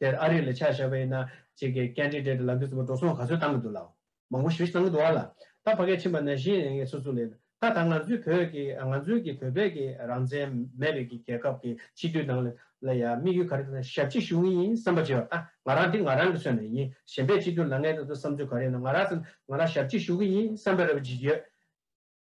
དེར་ཨ་རིའི་ལས་འཆར་ཞབས་ཨེ་ན་ཅིག་གི་སྐད་འཕྲིན་སྦྲེལ་དུ་ལག་འབྲུ་རྩུབ་མོ་འགྲོ་སོང་ག་ཚོད་བཏང་གི་འདུག་ལ། མང་པོ་ཞིག་བཏང་གི་འདུག་ཨ་ལ། ད་ཕ་སྐད་ཕྱིན་པ་ན་གཞི་ནས་ངས་སུ་སུ་ལས། ད་ད་ང་ཚོའི་བོད་ཀྱི་ང་ཚོའི་གི་བོད་པའི་གི་རང་བཙན་མེད་པའི་གི་རྒྱལ་ཁབ་གི་སྤྱི་འཐུས་ནང་ལ་ཡ་དམིགས་ཡུལ་ག་རེ་དང་ཞབས་ཕྱི་ཞུ་ངེས་ཡིན་བསམ་པ་བྱེད་བ་ད་ང་རང་འདི་ང་རང་གི་ཚོད་ནས་ཡིན་གཞན་པའི་སྤྱི་འཐུས་ལ་ངས་ད་དུ་བསམ་ཚུལ་ག་རེ་ཡིན་ན་ང་རང་ཚོ་ང་རང་ཞབས་ཕྱི་ཞུ་གི་ཡིན་བསམ་པའི་རེ་བ་བྱེད་ཀྱི་ཡོད།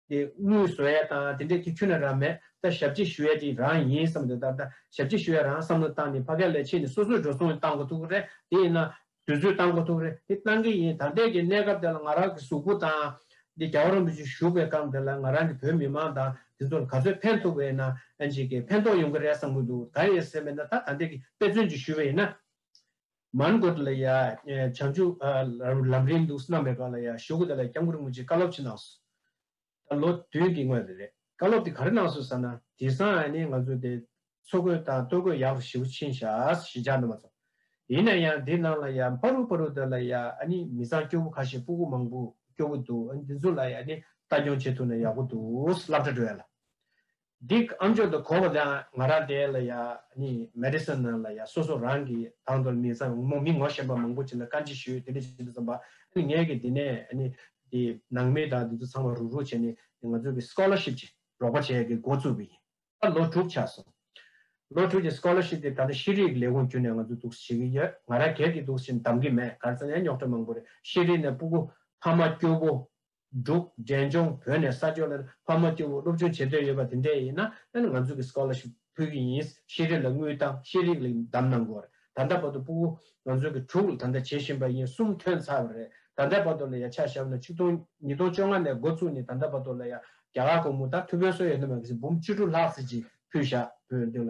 དེ་དངུལ་བཟོ་ཡས་དང་དེ་འདྲས་ཀྱི་ཁྱོད་ནས་རང་མེད་ད་ཞབས་ཕྱི་ཞུ་ཡས་དེ་རང་ཡིན་བསམ་དེ་ལྟར་ད་ཞབས་ཕྱི་ཞུ་ཡས་རང་བསམ་བློ་བཏང་ནས་ཕ་ག་ལས་ཕྱི་ནས་སོ་སོས་འགྲོ་སོང་གཏང་དགོས་ཐུག་གི་རེད་དེ་ཡིན་ན་དུས་ཚོད་བཏང་དགོས་ཐུག་གི་རེད་དེ་བཏང་གི་ཡིན་ད་ལྟས་ཀྱི་གནས་སྐབས་དེ་ལ་ང་རང་གི་གཟུགས་པོ་དང། འདི་རྒྱ་བོ་རིན་པོ་ཆེ་བཞུགས་པའི་སྐབས་འདི་ལ་ང་རང་གི་བོད་མི་མང་དང་དེ་ཚོ་ལ་ག་ཚོད་ཕན་ཐུག་པའི་ནང་ཕན་ཐོག་ཡོང་གི་རེད་བསམ་གི་འདུག་ད་ཡིན་ཟེར་བས་ན་ད་ད་ལྟས་ཀྱི་དཔེ་མཚོན་གྱི་ཞུ་བས་ཡིན་ན། མཱན་གོ་ཏི་ལ་ཡ་བྱང་ཆུབ་ལམ་རིང་ལུགས་སྣང་མེད་པ་ལ་ཡ་ཞོ་གུ་ད་ལ་ཡ་སྐྱབས་འགུར་རྔུལ་ཆེ་བཀའ་སློབ་ཕྱི་ནང་སུ་ད་ལོ་དུས་འདི་དངོས་རེད་བཀའ་སློབ་དེ་ག་རེ་གནང་སུ་ཟ་ན་དེ་སང་ཨ་ནི་ང་ཚོ་དེ་ཚོ་དགོས་དང་ལྟོ་གོས་ཡག་རུ་ཞིའུ་ཆིན་ཤ་ཞེ་ཅང་འདོན་མ་ཚོ་ཡིན་ན་ཡང་དེ་ནང་ལ་ཡ་འཕ་རུ་འཕ་རུ་ད་ལ་ཡ་ཨ་ནི་མི་ཚང་སྐྱོ་བོ་ཁ་ཤས་སྤུ་གུ་མང་པོ་སྐྱོ་བོ་འདུག་འདི་ཚོ་ལ་ཡ་ནི་ལྟ་སྐྱོང་བྱེད་ཐུབ་ན་ཡག་པོ་འདུག་བསླབ་གྲ་སྒྲོལ་ཡ་ལ་འདིས་ཨམ་ཅོག་དང་གོ་བ་དང་ང་ར་དེ་ལ་ཡ་ནི Medicine ནང་ལ་ཡ་སོ་སོ་རང་གི་དང་དོར་མི་ཚང་མོ་མི་ངོ་ཤེས་པ་མང་པོ་བྱེད་ན་བཀའ་འདྲི་ཞུས་དེ་འདྲ་བྱེད་དུ་བརྩམས་པ་ཨ་ནི་ངས་ཀྱི་དེ་ནས་ཨ་ནི་དེ་ནང་མི་དང་དེ་ཚོ་ཚང་མ་རུག་རུག་བྱས་ནས་དེ་ང་ཚོ་གི Scholarship ཀྱི་རོགས་པ་བྱས་ཀྱི་འགོ་བཙུགས་པ་ཡིན། ད་ལོ་དྲུག་ཆགས་སོང། ལོ་དྲུག་ཀྱི Scholarship དེ་ད་ལྟ་ཤེས་རིག་ལས་ཁུངས་བརྒྱུད་ནས་ང་ཚོ་གཏུགས་བྱེད་ཀྱི་ཡོད་ང་ར་གད་ཀྱི་གཏུགས་བྱེད་འདམ་གྱི་མེད་གར་ཚང་ཡ་རྙོག་དྲ་མང་པོ་རེད་ཤེས་རིག་ནས་སྤུ་གུ་ཕ་མ་སྐྱོ་པོ་འབྲུག་འབྲས་ལྗོངས་བོད་ནས་ས་ཕྱོགས་ལ་ཕ་མ་སྐྱེ་བོ་སློབ་སྦྱོང་བྱེད་འདོད་ཡོད་པ་དེ་འདྲས་ཡིན་ན་ང་ཚོ་གི Scholarship ཕུལ་གྱི་ཡིན་ཤེས་རིག་ལ་དངུལ་བཏང་ཤེས་རིག་ལ་ཡིན་གདམ་གནང་དགོས་ད་ལྟ་བར་དུ་སྤུ་བོ་ང་ཚོ་གི་དྲུག་ལ་ད་ལྟ་བྱེད་བཞིན་པ་ཡིན་གསུམ་ཐོན་ཚར་བ་རེད་ད་ལྟ་བར་དུ་ལ་ཡ་ཆ་ཞབས་ན་ཆིག་སྟོང་ཉིས་སྟོང་བཅོ་ལྔ་ནས་འགོ་བཙུགས་ནས་ད་ལྟ་བར་དུ་ལ་ཡ་རྒྱ་གར་གོང་མོ་ད་ཐུ་བོའི་སོ་ཡོད་ན་མ་གི་སི་འབུམ་བཅུ་དྲུག་ལྷག་སི་ཇི་ཕུལ་བཞག་བོད་འདི་ལ་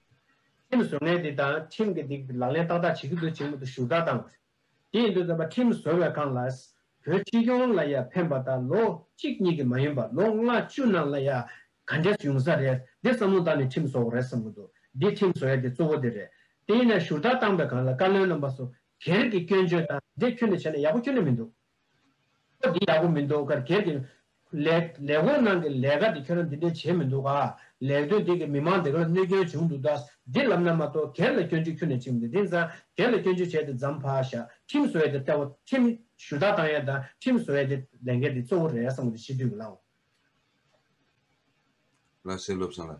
ཁྲིམས་བཟོ་མཁན་དེ་དང་ཁྲིམས་ཀྱི་སྟེང་དུ་ལག་ལེན་ཏག་ཏག་བྱེད་ཀྱི་འདུག་ཅེས་མུ་མཐུད་ཞུ་དག་བཏང། དེ་ཡིན་དུས་རྩམ་པ་ཁྲིམས་བཟོ་བའི་ཁང་ལ། བོད་ཕྱི་སྐྱོང་ལ་ཡང་ཕན་པ་དང་ལོ་གཅིག་གཉིས་ཀྱི་མ་ཡིན་པར་ལོ་ལྔ་བཅུ་ནང་ལ་ཡང་ག་འདྲས་ཡོང་ས་རེད་འདི་བསམ་བློ་བཏང་ནས་ཁྲིམས་བཟོ་འོག་རེད་བསམ་གྱི་འདུག་འདི་ཁྲིམས་བཟོ་ཡ་དེ་གཙོ་བོ་དེ་རེད། དེ་ཡིན་ན་ཞུ་དག་བཏང་པའི་ཁང་ལ་བཀའ་བློན་རྣམ་པ་སོགས་སྒེར་གྱི་སྐྱོན་བརྗོད་དང་འདི་ཁྱོད་ནས་བྱས་ན་ཡག་པོ་ཁྱོན་ནས་མི་འདུག། འདི་ཡག་པོ་མི་འདུག་གར་སྒེར་གྱི། ལས། ལས་ཁུངས་ནང་གི་ལས་ཀ་དེ་ཁྱོད་རང་འདི་འདྲས་བྱས་མི་འདུག་ག། ལས་དོན་དེ་གིས་མི་མང་དེ་ག་ལ་གནོད་སྐྱོན་བྱུང་འདུག་ད། འདི་ལབ་ན་མ་གཏོགས་སྒེར་ལ་སྐྱོན་བརྗོད་ཁྱོད་ནས་བྱེད་མི་འདུག་དེང་སང་སྒེར་ལ་སྐྱོན་བརྗོད་བྱས་ཏེ་ཛམ་བྷ་ཤ། ཁྲིམས་བཟོ་བའི་དེ་ལྟ་བུ། ཁྲིམས། ཞུ་དག་བཏང་ཡ་དང་ཁྲིམས་བཟོ་བའི་དེ། ལས་འགན་དེ་གཙོ་བོ་རེད་བསམ་བ་དེ་ཤེས་དུས་ཀྱི་བླང། ལ་སེ་སློབ་སངས་ལ།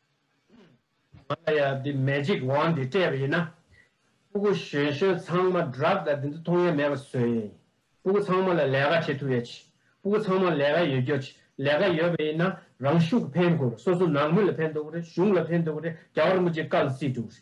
ང་ལ་ཡང་འདི Magic Wand འདི་སྤྲད་པ་ཡིན་ན། སྤུ་གུ་གཞོན་གཞོན་ཚང་མ Drug ལ་འདི་ཚོ་མཐོང་ཡ་མེད་པ་བཟོས་ཡིན། སྤུ་གུ་ཚང་མ་ལ་ལས་ཀ་བྱེད་ཐུབ་ཡ་ཆེ། སྤུ་གུ་ཚང་མ་ལས་ཀ་ཡོད་རྒྱུ་ཆེ། ལས་ཀ་ཡོད་པ་ཡིན་ན་རང་ཤུགས་ཀྱི་ཕན་དགོས་རེད་སོ་སོ་ནང་མི་ལ་ཕན་ཐོགས་ཀྱི་རེད་གཞུང་ལ་ཕན་ཐོགས་ཀྱི་རེད་རྒྱ་གར་མི་རྗེ་བཀག་ལ་རྩིས་འགྲུག་རེད།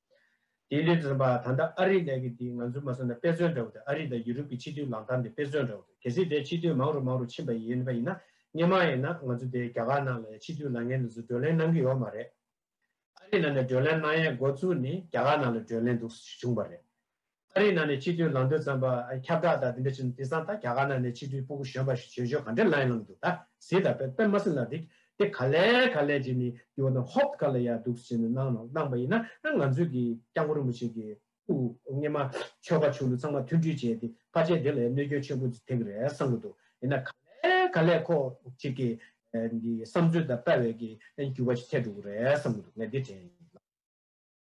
དེའི་ལས་དྲིན་པ་ད་ལྟ་ཨ་རིའི་ལས་ཀྱི་དེ་ང་ཚོའི་མ་སོན་ན་དཔེ་མཚོན་འདྲ་བོ་དེ་ཨ་རི་དང་ཡུ་རུབ་ཀྱི་ཕྱི་དུས་ལག་གདང་དེ་དཔེ་མཚོན་འདྲ་བོ་དེ་གལ་སྲིད་དེ་ཕྱི་དུས་མང་རུ་མང་རུ་ཕྱིན་པ་ཡིན་པ་ཡིན་ན་སྙན་མང་ཡིན་ན་ང་ཚོ་དེ་རྒྱ་གར་ནང་ལ་ཡང་ཕྱི་དུས་ལག་ངན་འདི་ཚོ་བགྲོད་ལན་གནང་གི་ཡོག་མ་རེད། ཨ་རི་ནང་ནས་བགྲོད་ལན་གནང་ཡས་འགོ་ཚུགས་ནི་རྒྱ་གར་ནང་ལ་བགྲོད་ལན་འདུག་བྱུང་པ་རེད། ཨ་རིའི་ནང་ནས་སྤྱི་འཐུས་ལམ་སྟོན་ཙམ་པ་ཁྱབ་བསྒྲགས་དང་དེ་འདྲ་བྱེད་ནས་དེ་སང་ད་རྒྱ་གར་ནང་ནས་སྤྱི་འཐུས་སྤུ་གུ་གཞོན་པ་ཞིག་བྱོས་བྱོས་ག་འདྲའི་ལ་ཡིན་ལབ་འདུག་ད་ཟིག་ད་པད་པདྨ་སི་ལ་དིག་དེ་ག་ལས་ག་ལས་བྱེད་ནས་དེ་བོ་ན་ཧོབ་ཀ་ལ་ཡ་འདུག་བྱེད་ནས་གནང་ནོ་གནང་པ་ཡིན་ན་ང་ཚོས་ཀྱི་སྐྱབས་མགོན་རིན་པོ་ཆེ་ཀྱི་སྐུ་སྔས་མ་ཆོས་པ་ཆོས་ལུགས་ཚང་མ་མཐུན་འཕྲུལ་བྱས་ཏེ་ཕ་ཆེན་དེ་ལ་ཡ་གནོད་སྐྱོན་ཆེན་པོ་ཐེབས་ཀྱི་རེད་བསམ་གྱི་འདུག་ཡིན་ན་ག་ལས་ག་ལས་ཁོ་གཅིག་གི་འདི་བསམ་ཚུལ་དང་དཔའ་བས་ཀྱི་འགྱུར་བ་ཞིག་ཐེབས་འགྲོ་གི་རེད་བསམ་གྱི་འདུག་ངས་འདི་དྲན་ཡིན་ལབ།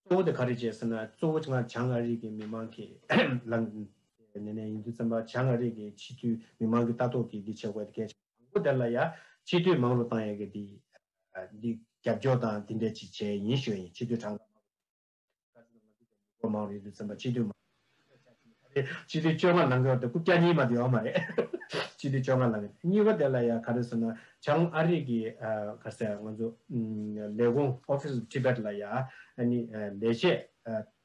གཙོ་བོ་དེ་ག་རེད་ཅེས་ཟེར་ན་གཙོ་བོ་ང་བྱང་ཨ་རིག་གི་མི་མང་གི་ནས་ནས་ཡིན་དུས་བཙན་པ་བྱང་ཨ་རིག་གི་ཕྱི་དུས་མི་མང་གི་ལྟ་རྟོག་གིས་འདི་བྱེད་དགོས་དེ་གལ་ཆེ་དང་པོ་དེར་ལ་ཡ་ཕྱི་དུས་མང་རུ་བཏང་ཡ་གི་འདི་འདི་རྒྱབ་སྐྱོར་དང་འདི་འདྲས་ཅིག་བྱས་ཡིན་ཞོ་ཡིན་ཕྱི་དུས་གྲངས་ཀ་མང་རུ་ཡིན་དུས་བཙན་པ་ཕྱི་དུས་མང་རུ་ཡིན་དུས་བཙན་པ་ཕྱི་དུས་མང་རུ་སྤྱི་ལེ་བཅོ་ལྔ་ལང་གི་འོག་ཏུ་རྐུབ་བཀྱག་གཉིས་མ་དེ་ཡོག་མ་རེད། སྤྱི་ལེ་བཅོ་ལྔ་ལང་གི་གཉིས་པ་དེ་ལ་ཡང་ག་རེ་ཟེར་ན་བྱང་ཨ་རིག་གི་ག་རེ་ཟེར་ང་ཚོ་ལས་ཁུངས Office of Tibet ལ་ཡང་ནི་ལས་བྱེད་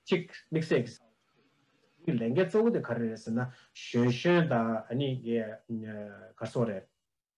གཅིག་དམིགས་བསལ་གྱི་ཟེར། ལས་འགན་གཙོ་བོ་དེ་ག་རེ་རེད་ཟེར་ན་ཞོན་ཞོན་དང་ནི་གར་སོང་རེད།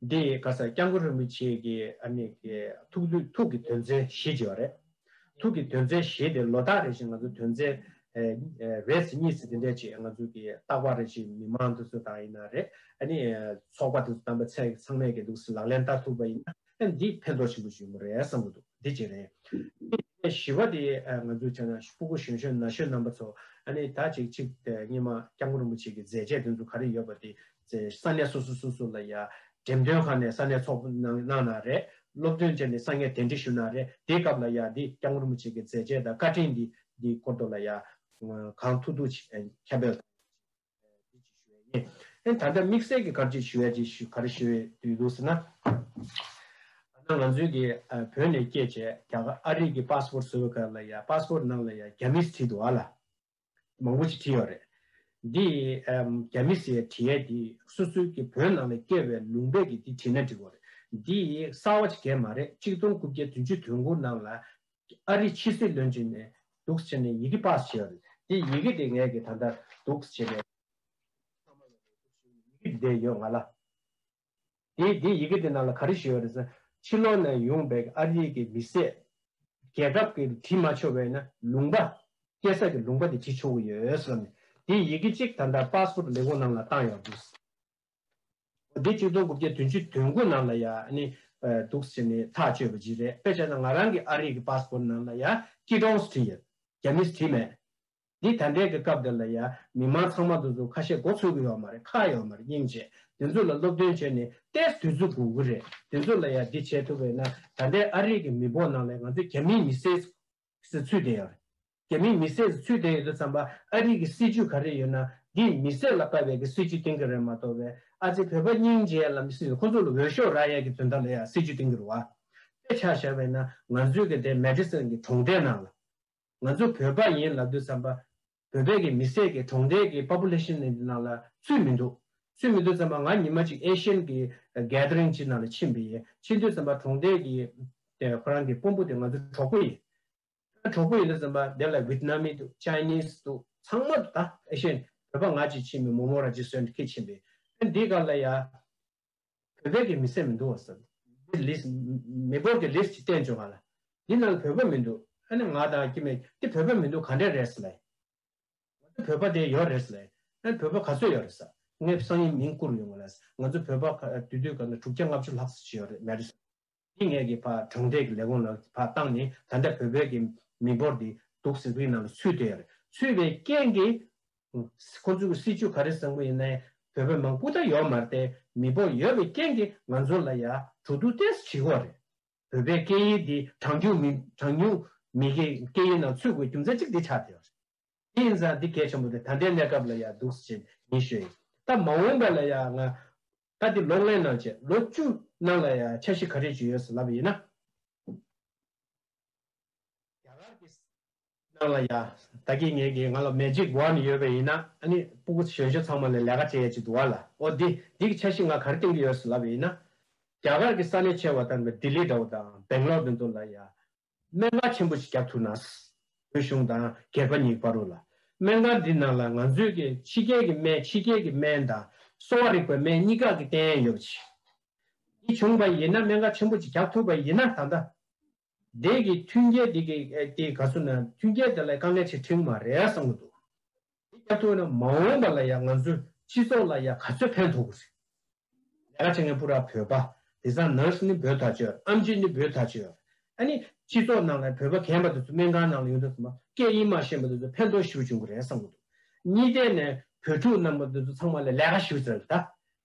འདི་ཡི་ག་ས་སྐྱབས་མགོན་རིན་པོ་ཆེ་གི་ཐུགས་ཀྱི་དོན་མཛད་བཞེས་བྱས་པ་རེད། ཐུགས་ཀྱི་དོན་མཛད་བཞེས་དེ་ལོ་ད་རེ་བཞིན་ང་ཚོ་དོན་མཛད་རེས་སུ་གཉིས་སུ་དེ་འདྲས་བྱས་ང་ཚོ་གི་རྟག་པ་རེ་བཞིན་མི་མང་དུ་སུ་དང་ཡིན་ན་རེ་ཚོགས་པ་དུ་སུ་དམ་པ་ཚད་ཚང་མས་གི་འདུག་སུ་ལག་ལེན་བསྟར་ཐུབ་པ་ཡིན་ན་འདི་ཕན་ཐོགས་ཆེན་པོ་ཞིག་ཡིན་པ་རེད་བསམ་གི་འདུག་འདི་གཅིག་རེད། འདི་བཞི་བ་དེ་ང་ཚོ་བྱས་ན་སྤུ་གུ་གཞོན་གཞོན་ན་གཞོན་རྣམ་པ་ཚོ་ད་ཅིག་ཅིག་གཉིས་མ་སྐྱབས་མགོན་རིན་པོ་ཆེ་གི་མཛད་རྗེས་དེ་ཚོ་ག་རེ་ཡོད་པ་དེ་ཚེ་ས་གནས་སོ་སོ་སོ་སོ་ལ་ཡང་འགྲེམས་སྟོན་ཁང་ནས་ས་གནས་ཚོགས་གནང་གནང་གནང་རེད་སློབ་སྟོན་བྱས་ནས་ས་ངས་དན་འདྲི་ཞུ་གནང་རེད་དེའི་སྐབས་ལ་ཡང་འདི་སྐྱབས་ངོར་མོ་བྱེད་ཀྱི་མཛད་རྗེས་དང་བཀའ་དྲིན་འདི་འདི་སྐོར་དུ་ལ་ཡང་གང་ཐུག་ཐུག་ཁྱབ་པས་འདི་ཅིག་ཞུ་བས་ཡིན། ད་ལྟ་དམིགས་བསལ་གྱི་ག་རེ་ཞུ་བས་ཞུ་ག་རེ་ཞུ་བས་དུས་འདུག་ཟེར་ན། ད་ང་ཚོའི་གི་བོད་ནས་སྐྱེས་བྱས་རྒྱ་གར་ཨ་རིག་གི་པཱ་སི་པོར་བཟོ་བའི་སྐབས་ལ་ཡང་པཱ་སི་པོར་ནང་ལ་ཡང་རྒྱ་མིས་བྲིས་འདུག་ཨ་ལ། མང་པོ་ཞིག་བྲིས་ཡོད་རེད། འདི་རྒྱ་མི་སེར་བྲིས་ཡས་འདི་སུ་སུ་གི་བོད་ནང་ལ་སྐྱེ་བའི་ལུང་པས་ཀྱི་འདི་བྲིས་ན་འགྲིག་གོ་རེད། འདི་གསར་བ་ཞིག་རེད་མ་རེད་གཅིག་སྟོང་དགུ་བརྒྱ་དུས་ཅུ་དོན་དགུ་ནང་ལ་ཨ་རི་ཕྱི་སྲིད་བློན་ཆེན་ནས་སྡུགས་བྱས་ནས་ཡི་གེ་པགས་སུ་བྱས་ཡོད་རེད་འདི་ཡི་གེ་འདི་ངས་ཀྱི་ད་ལྟ་སྡུགས་བྱས་ནས་ཚང་མ་ལ་ལས་སྡུགས་བྱས་ཡོད་ཡི་གེ་འདི་བསྡད་ཡོད་ང་ལ། དེས་དེ་ཡི་གེ་དེ་ནང་ལ་ག་རེ་བྱེད་པ་རེད་ཟེར། ཕྱི་ལོགས་ནས་ཡོང་པའི་ཨ་རིའི་གི་མི་སེར། རྒྱལ་ཁབ་ཀྱི་བྲིས་མ་ཆོག་བས་ན་ལུང་པ། སྐད་གསར་གྱི་ལུང་པ་དེ་བྲིས་ཆོག་གི་ཡོད་བསམ་ནས། དེའི་ཡི་གེ་གཅིག་ད་ལྟ་པ་སོར་ལས་ཁུངས་ནང་ལ་བཏང་ཡག་འདུག། འོ་དེ་གཅིག་སྟོང་དགུ་བརྒྱ་དོན་བཅུ་དོན་དགུ་ནང་ལ་ཡ་ནི་འདུག་ཟེར་ནས་ཐག་གཅོད་པ་ཅིག་རེད་དཔེ་བྱས་ན་ང་རང་གི་ཨ་རིའི་གི་པ་སྤོར་ནང་ལ་ཡ་སྐྱིད་སྟོང་བྲིས་ཡོད་རྒྱ་མིས་བྲིས་མེད། འདི་ད་འདྲའི་གི་སྐབས་འདིར་ལ་ཡ་མི་མང་ཚང་མ་དུ་ཟུར་ཁ་ཤས་འགོ་ཚུགས་གི་ཡོག་མ་རེད་ཁག་ཡོག་མ་རེད་སྙིང་རྗེ་དེ་ཚོ་ལ་སློབ་སྟོན་བྱས་ནས་ལྟས་དུས་ཚོད་དགོས་གི་རེད་དེ་ཚོ་ལ་ཡ་འདི་བྱས་ཐུབ་པའི་ན་ད་འདྲའི་ཨ་རིག་གི་མི་བོག་ནང་ལས་ང་ཚོ་རྒྱ་མིའི་མི་སེར་སི་ཚུད་དེ་ཡོག་རེད་རྒྱ་མིའི་མི་སེར་སི་ཚུད་དེ་ཡོད་དུ་ཚང་པ་ཨ་རིག་གི་སི་ཇུས་ག་རེ་ཡོད་ན་འདི་མི་སེར་ལ་དཀའ་བའི་གི་སི་ཇུས་གཏིང་གི་རེད་མ་ཏོ་བས་ཨ་ཙི་བོད་པ་སྙིང་རྗེ་ལམ་སི་ཁོ་ཚོ་ལ་འོས་ཤོག་རག་ཡག་གི་དོན་དག་ལ་ཡ་སི་ཇུས་གཏིང་གི་རུ་བ་དཔེ་ཆགས་བཞག་པའི་ན་ང་ཚོའི་གི་དེ་མེ་དྷི་སན་གི་གྲོང་སྡེ་ནང་ལ་ང་ཚོ་བོད་པ་ཡིན་ལབ་འདུག་བསམ་པ། བོད་པའི་གི་མི་སེར་གི་གྲོང་རྡལ་གི Population ནི་འདི་ནང་ལ་ཚུད་མི་འདུག། ཚུད་མི་འདུག་བསམ་པ་ང་ཉི་མ་ཅིག Asian གི Gathering ཅིག་ནང་ལ་ཕྱིན་པ་ཡིན་ཕྱིན་དུས་བསམ་པ་གྲོང་རྡལ་གི་དེ་ཁོ་རང་གི་དཔོན་པོ་དེ་ང་ཚོ་གྲོགས་པོ་ཡིན། ད་གྲོགས་པོ་ཡིན་འདུག་བསམ་པ་དེ་ལ Vietnamese འདུག Chinese འདུག་ཚང་མ་འདུག་ད Asian བོད་པ་ང་ཅིག་ཕྱིན་པའི་མོ་མོ་ར་ཇི་སོན་ཁེད་ཕྱིན་པའི་དཔོན་དེའི་ག་ལ་ཡ། བོད་པའི་གི་མི་སེམས་མི་འདུག་བ་ཟབ། འདིར་ལིས། མེ་འཁོར་གི་ལིས་ཀྱི་བསྟན་བཅོས་ག་ལ། འདི་ནང་གི་བོད་པ་མི་འདུག་ཨ་ནི་ང་དང་ཀྱི་མེད་འདི་བོད་པ་མི་འདུག་ག་འདྲས་རེད་ཟེར་ལེ། ང་ཚོ་བོད་པ་དེ་ཡོད་རེད་ཟེར་ལེ། ཨ་ནི་བོད་པ་ག་ཚོད་ཡོད་རེད་ཟེར། ངས་སང་ཉིན་མིང་བསྐུར་ཡོང་ངོ་ལེ། ང་ཚོ་བོད་པ་དུས་དུས་ག་ནས་དྲུག་བརྒྱ་ལྔ་བཅུ་ལྷག་ཟེར་གྱི་ཡོད་རེད་མེད་རེད་ཟེར། ལྷིང་ངེར་གྱི་བར་གྲོང་རྡལ་གྱི་ལས་གོང་ལ་བར་བཏང་ནས་ད་ལྟ་བོད་པའི་གི་མི་འབོར་འདི་དུག་སེལ་ཁུལ་ནང་ལ་ཚུད་དེ་རེད་ཚུད་པའི་རྐྱེན་གི་ཁོ་ཚོའི་གི་སྲིད་ཇུས་ག་རེ་བཟང་པོ་ཡིན་ནའི་བོད་པའི་མང་པོ་ད་ཡོད་མ་རེད་དེ་མི་འབོར་ཡོད་པའི་རྐྱེན་གི་ང་ཚོ་ལ་ཡ་དྲུག་དུག་ཏེས་བྱེད་ཁོ་རེད་བོད་པའི་སྐད་ཡིག་འདི་གྲངས་ཉུང་མི་གྲངས་ཉུང་མི་གི་སྐད་ཡིག་ནང་ཚུད་དགོས་རྒྱུ་མཚན་གཅིག་འདི་ཆགས་དེ་རེད་དེ་ཡིན་ཙང་འདི་གལ་ཆེན་པོ་རེད་ད་ལྟའི་གནས་སྐབས་ལ་ཡ་དུག་སེལ་ཡིན་ཤོད་ཡིན་ད་མ་འོངས་པ་ལ་ཡ་ང་ད་དེ་ལོག་ལེན་གནང་བྱས་ལོ་བཅུ་ནང་ལ་ཡང་འཆར་གཞི་ག་རེ་བྱོས་ཡོད་ཟེར་ལབ་པ་ཡིན་ན། རྒྱ་གར་གྱི་ནང་ལ་ཡང་ད་གིས་ངེད་ཀྱིས་ང་ལ Magic Wand ཡོད་པ་ཡིན་ན་ཨ་ནི་སྤུ་གུ་གཞོན་ཤོས་ཚང་མ་ལ་ལས་ཀ་བྱེད་ཡ་ཅིག་འདུག་བ་ལ་ཨོ་དེ་དེ་གི་འཆར་གཞི་ང་ག་རེ་གཏན་གི་ཡོད་ཟེར་ལབ་པ་ཡིན་ན། རྒྱ་གར་གྱི་ས་གནས་ཆེ་བ་དང་པོ Delhi འདྲ་བོ་དང Bangalore དེ་ཚོ་ལ་ཡང་སྨན་ཁང་ཆེན་པོ་ཞིག་རྒྱག་ཐུབ་ན། བོད་གཞུང་དང་སྒེར་པ་གཉིས་དཔའ་རོགས་ལ། སྨན་ཁང་འདི་ནང་ལ་ང་ཚོས་ཀྱི་ཕྱི་རྒྱལ་གྱི་སྨན་ཕྱི་རྒྱལ་གྱི་སྨན་དང། གསོ་བ་རིག་པའི་སྨན་གཉིས་ཀ་གི་རྟེན་ཡོད་པ་ཆེ། འདི་བྱུང་བ་ཡིན་ན་སྨན་ཁང་ཆེན་པོ་ཅིག་རྒྱག་ཐུབ་པ་ཡིན་ན་ད་ལྟ། འདས་ཀྱི་མཐུན་རྐྱེན་འདི་གིས་ག་ཚོད་ན་མཐུན་རྐྱེན་དེ་ལ་དཀའ་ངལ་ཆེ་འཕྲིང་མ་རེད་བསམ་གྱི་འདུག། དེ་བསྐྱར་ཐོན་ན་མ་འོངས་པ་ལ་ཡང་ང་ཚོའི་སྤྱི་ཚོགས་ལ་ཡང་ག་ཚོད་ཕན་ཐོགས་དགོས་རེད། ལས་ཀ་བྱེད་མཁན་པུ་ར་བོད་པ་དེ་བཟང nurse ནི་བོད་ཐག་ཆོད་ཨམ་ཆི་ནི་བོད་ཐག་ཆོད། ཨ་ནི་སྤྱི་ཚོགས་ནང་ལ་བོད་པ་གན་པ་དེ་ཚོ་སྨན་ཁང་ནང་ལ་ཡོང་དུས་སམ་སྐད་དབྱིན་མ་ཤེས་པ་དེ་ཚོ་ཕན་ཐོགས་ཤིག་བྱུང་གི་རེད་བསམ་གི་འདུག་གཉིས་ལྡན་ནས་བོད་ཕྲུག་རྣམས་པ་དེ་ཚོ་ཚང་མ་ལ་ལས་ཀ་ཞིག་བཙལ་དགོས་ད།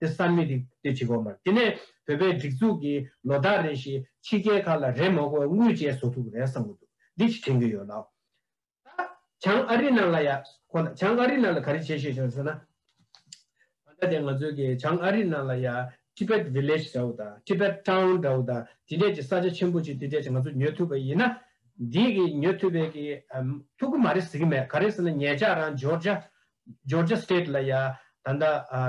དེ་བསམ་མི་རིགས་ལྟོས་ཅི་དགོས་མར་དེ་ནས་བོད་པའི་སྒྲིག་འཛུགས་ཀྱི་ལོ་ཟླ་རེ་ཞིག་ཕྱི་རྒྱལ་ཁག་ལ་རེས་མ་གོ་དངུལ་བཅས་བཟོ་ཐུབ་རེད་བསམ་གྱི་འདུག་འདི་ཅི་དྲན་གྱི་ཡོད་ལགས། ད་བྱང་ཨ་རི་ནང་ལ་ཡ་ཁོ་ན་བྱང་ཨ་རི་ནང་ལ་ག་རེ་བྱེད་ཤེས་བྱུང་ཟེར་ན། ད་ལྟ་དེ་ང་ཚོའི་གི་བྱང་ཨ་རི་ནང་ལ་ཡ Tibet Village འདྲ་བོ་དང Tibet Town འདྲ་བོ་དང་དེ་འདྲས་ཀྱི་ས་ཆ་ཆེན་པོ་ཅིག་དེ་འདྲས་ཀྱི་ང་ཚོ་ཉོས་ཐུབ་པ་ཡིན་ན། འདིས་གི་ཉོས་ཐུབ་པའི་གི་ཐུགས་ཀྱི་མ་རེད་ཟེར་གྱི་མེད་ག་རེ་ཟེར་ན་ངེད་ཅག་རང་འཇོར་ཇཱ Georgia State། ལ་ཡ། ད་ལྟ་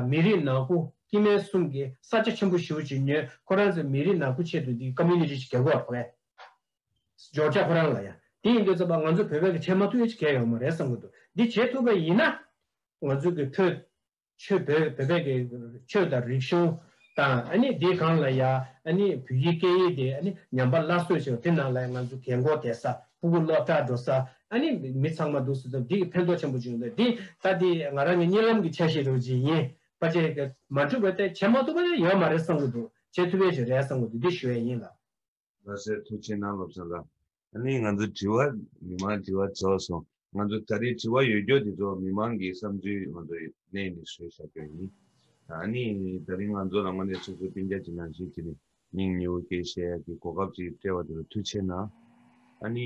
མི་རིགས་ནག་པོ་དཀྱིལ་མལ་གསུམ་གྱི་ས་ཆ་ཆེན་པོ་ཞིག་བྱེད་ཉོན་ཁོ་རང་ཚོའི་མི་རིགས་ནག་པོའི་ཆེད་དུ་འདི Community ཞིག་ག་གོ་བ་ཕ་གས། Georgia ཁོ་རང་ལ་ཡ། དེ་ཡིན་དུས་ཚོད་པ་ང་ཚོ་བོད་པས་གི་བྱེད་མ་ཐུབ་ཨེ་ཅི་གས་ཡོང་མ་རེད་བསམ་གི་འདུག་འདི་བྱེད་ཐུབ་པ་ཡིན་ན། ང་ཚོ་གི་ཕོད། ཆོས་བོད་བོད་པས་གི་ཆོས་དང་རིག་གཞུང་དང་ཨ་ནི་དེ་གང་ལ་ཡ་ཨ་ནི་བོད་ཡིག་སྐད་ཡིག་དེ་ཨ་ནི་ཉམས་པ་སླར་གསོས་བྱེད་པ་དེ་ནང་ལ་ཡ་ང་ཚོ་གས་མགོ་དེ་ས་ཕུ་བོ་སློབ་གྲྭར་འགྲོ་ས་ཨ་ནི་མི་ཚང་མ་འདུག་སེ་ཙང་འདི་གི་ཕན་ཐོག་ཆེན་པོ་བྱུང་འདུག་འདི་ད་འདི་ང་རང་གི་གཉིད་ལམ་གི་འཆར་གཞི་རུ་ཇི་ཡིན་པ་བྱས་ཀྱི་མ་འགྲིག་པ་དེ་བྱས་མ་ཐུབ་པ་ཡང་ཡོད་མ་རེད་བསམ་གྱི་འདུག་བྱས་ཐུབ་པའི་ཞིག་རེད་བསམ་གྱི་འདུག་འདི་ཞུ་ཡས་ཡིན་ལ། ལྷ་སའི་ཐུགས་ཆེན་ནང་སློབ་ཚོགས་ལ། ཨ་ནི་ང་ཚོ་དྲི་བ་མི་མང་དྲི་བ་ཚོགས་སོང། ང་ཚོ་ད་རེས་དྲི་བ་ཡོད་རྒྱོ་དེ་ཚོ་མི་མང་གི་བསམ་ཚུལ་ང་ཚོ་གནས་ནས་ཟོས་བཞག་རྒྱོ་ཡིན། ཨ་ནི་ད་རེས་ང་ཚོ་རང་ངོ་ནས་སོ་སོ་བསྟན་རྒྱ་ཅི་ནང་ཞིག་བྱེད་ནས་སྙིང་ཉེ་བོ་སྐྱེ་བཤད་ཡག་གི་གོ་སྐབས་ཅིག་སྤྲད་བ་དེ་ལ་ཐུགས་ཆེ་ན། ཨ་ནི་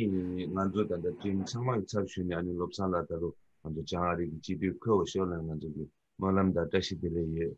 ང་ཚོ་ད་ལྟ་བཀྲིན་ཚང་མ་གི་ཚབ་ཞུས་ནས་ཨ་ནི་བློ་བཟང་ལགས་ད་རུ་ང་ཚོ་བྱང་ཨ་རིག་གི་སྤྱི་འཐུས་ཁོས་འོ་ཤོག་ལེན་ང་ཚོ་གི་སྨོན་ལམ་འདར་བཀྲ་ཤིས་བདེ་ལེགས་ཡོད།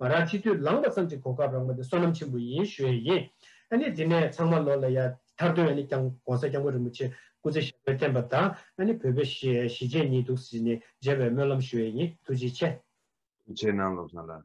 ང་རང་ཁྲི་འདུས་ལངས་པ་ཙམ་གྱི་གོ་སྐབས་རག་མ་དེ་བསོད་ནམས་ཆེན་པོ་ཡིན་ཞུ་ཡས་ཡིན། ཨ་ནི་དེ་ནས་ཚང་མ་ལོ་ལ་ཡ་མཐར་དོན་ཨ་ནི་ཀྱང ྋགོང་ས ྋསྐྱབས་མགོན་རིན་པོ་ཆེ་སྐུ་ཚེ་ཞབས་པད་བརྟན་པ་དང་ཨ་ནི་བོད་པའི་གཞིས་བྱེས་གཉིས་འདུག་ཟེར་ནས་མཇལ་བའི་སྨོན་ལམ་ཞུ་ཡས་ཡིན་ཐུགས་རྗེ་ཆེ། ཐུགས་ཆེ་གནང་བློ་བཟང་ལགས།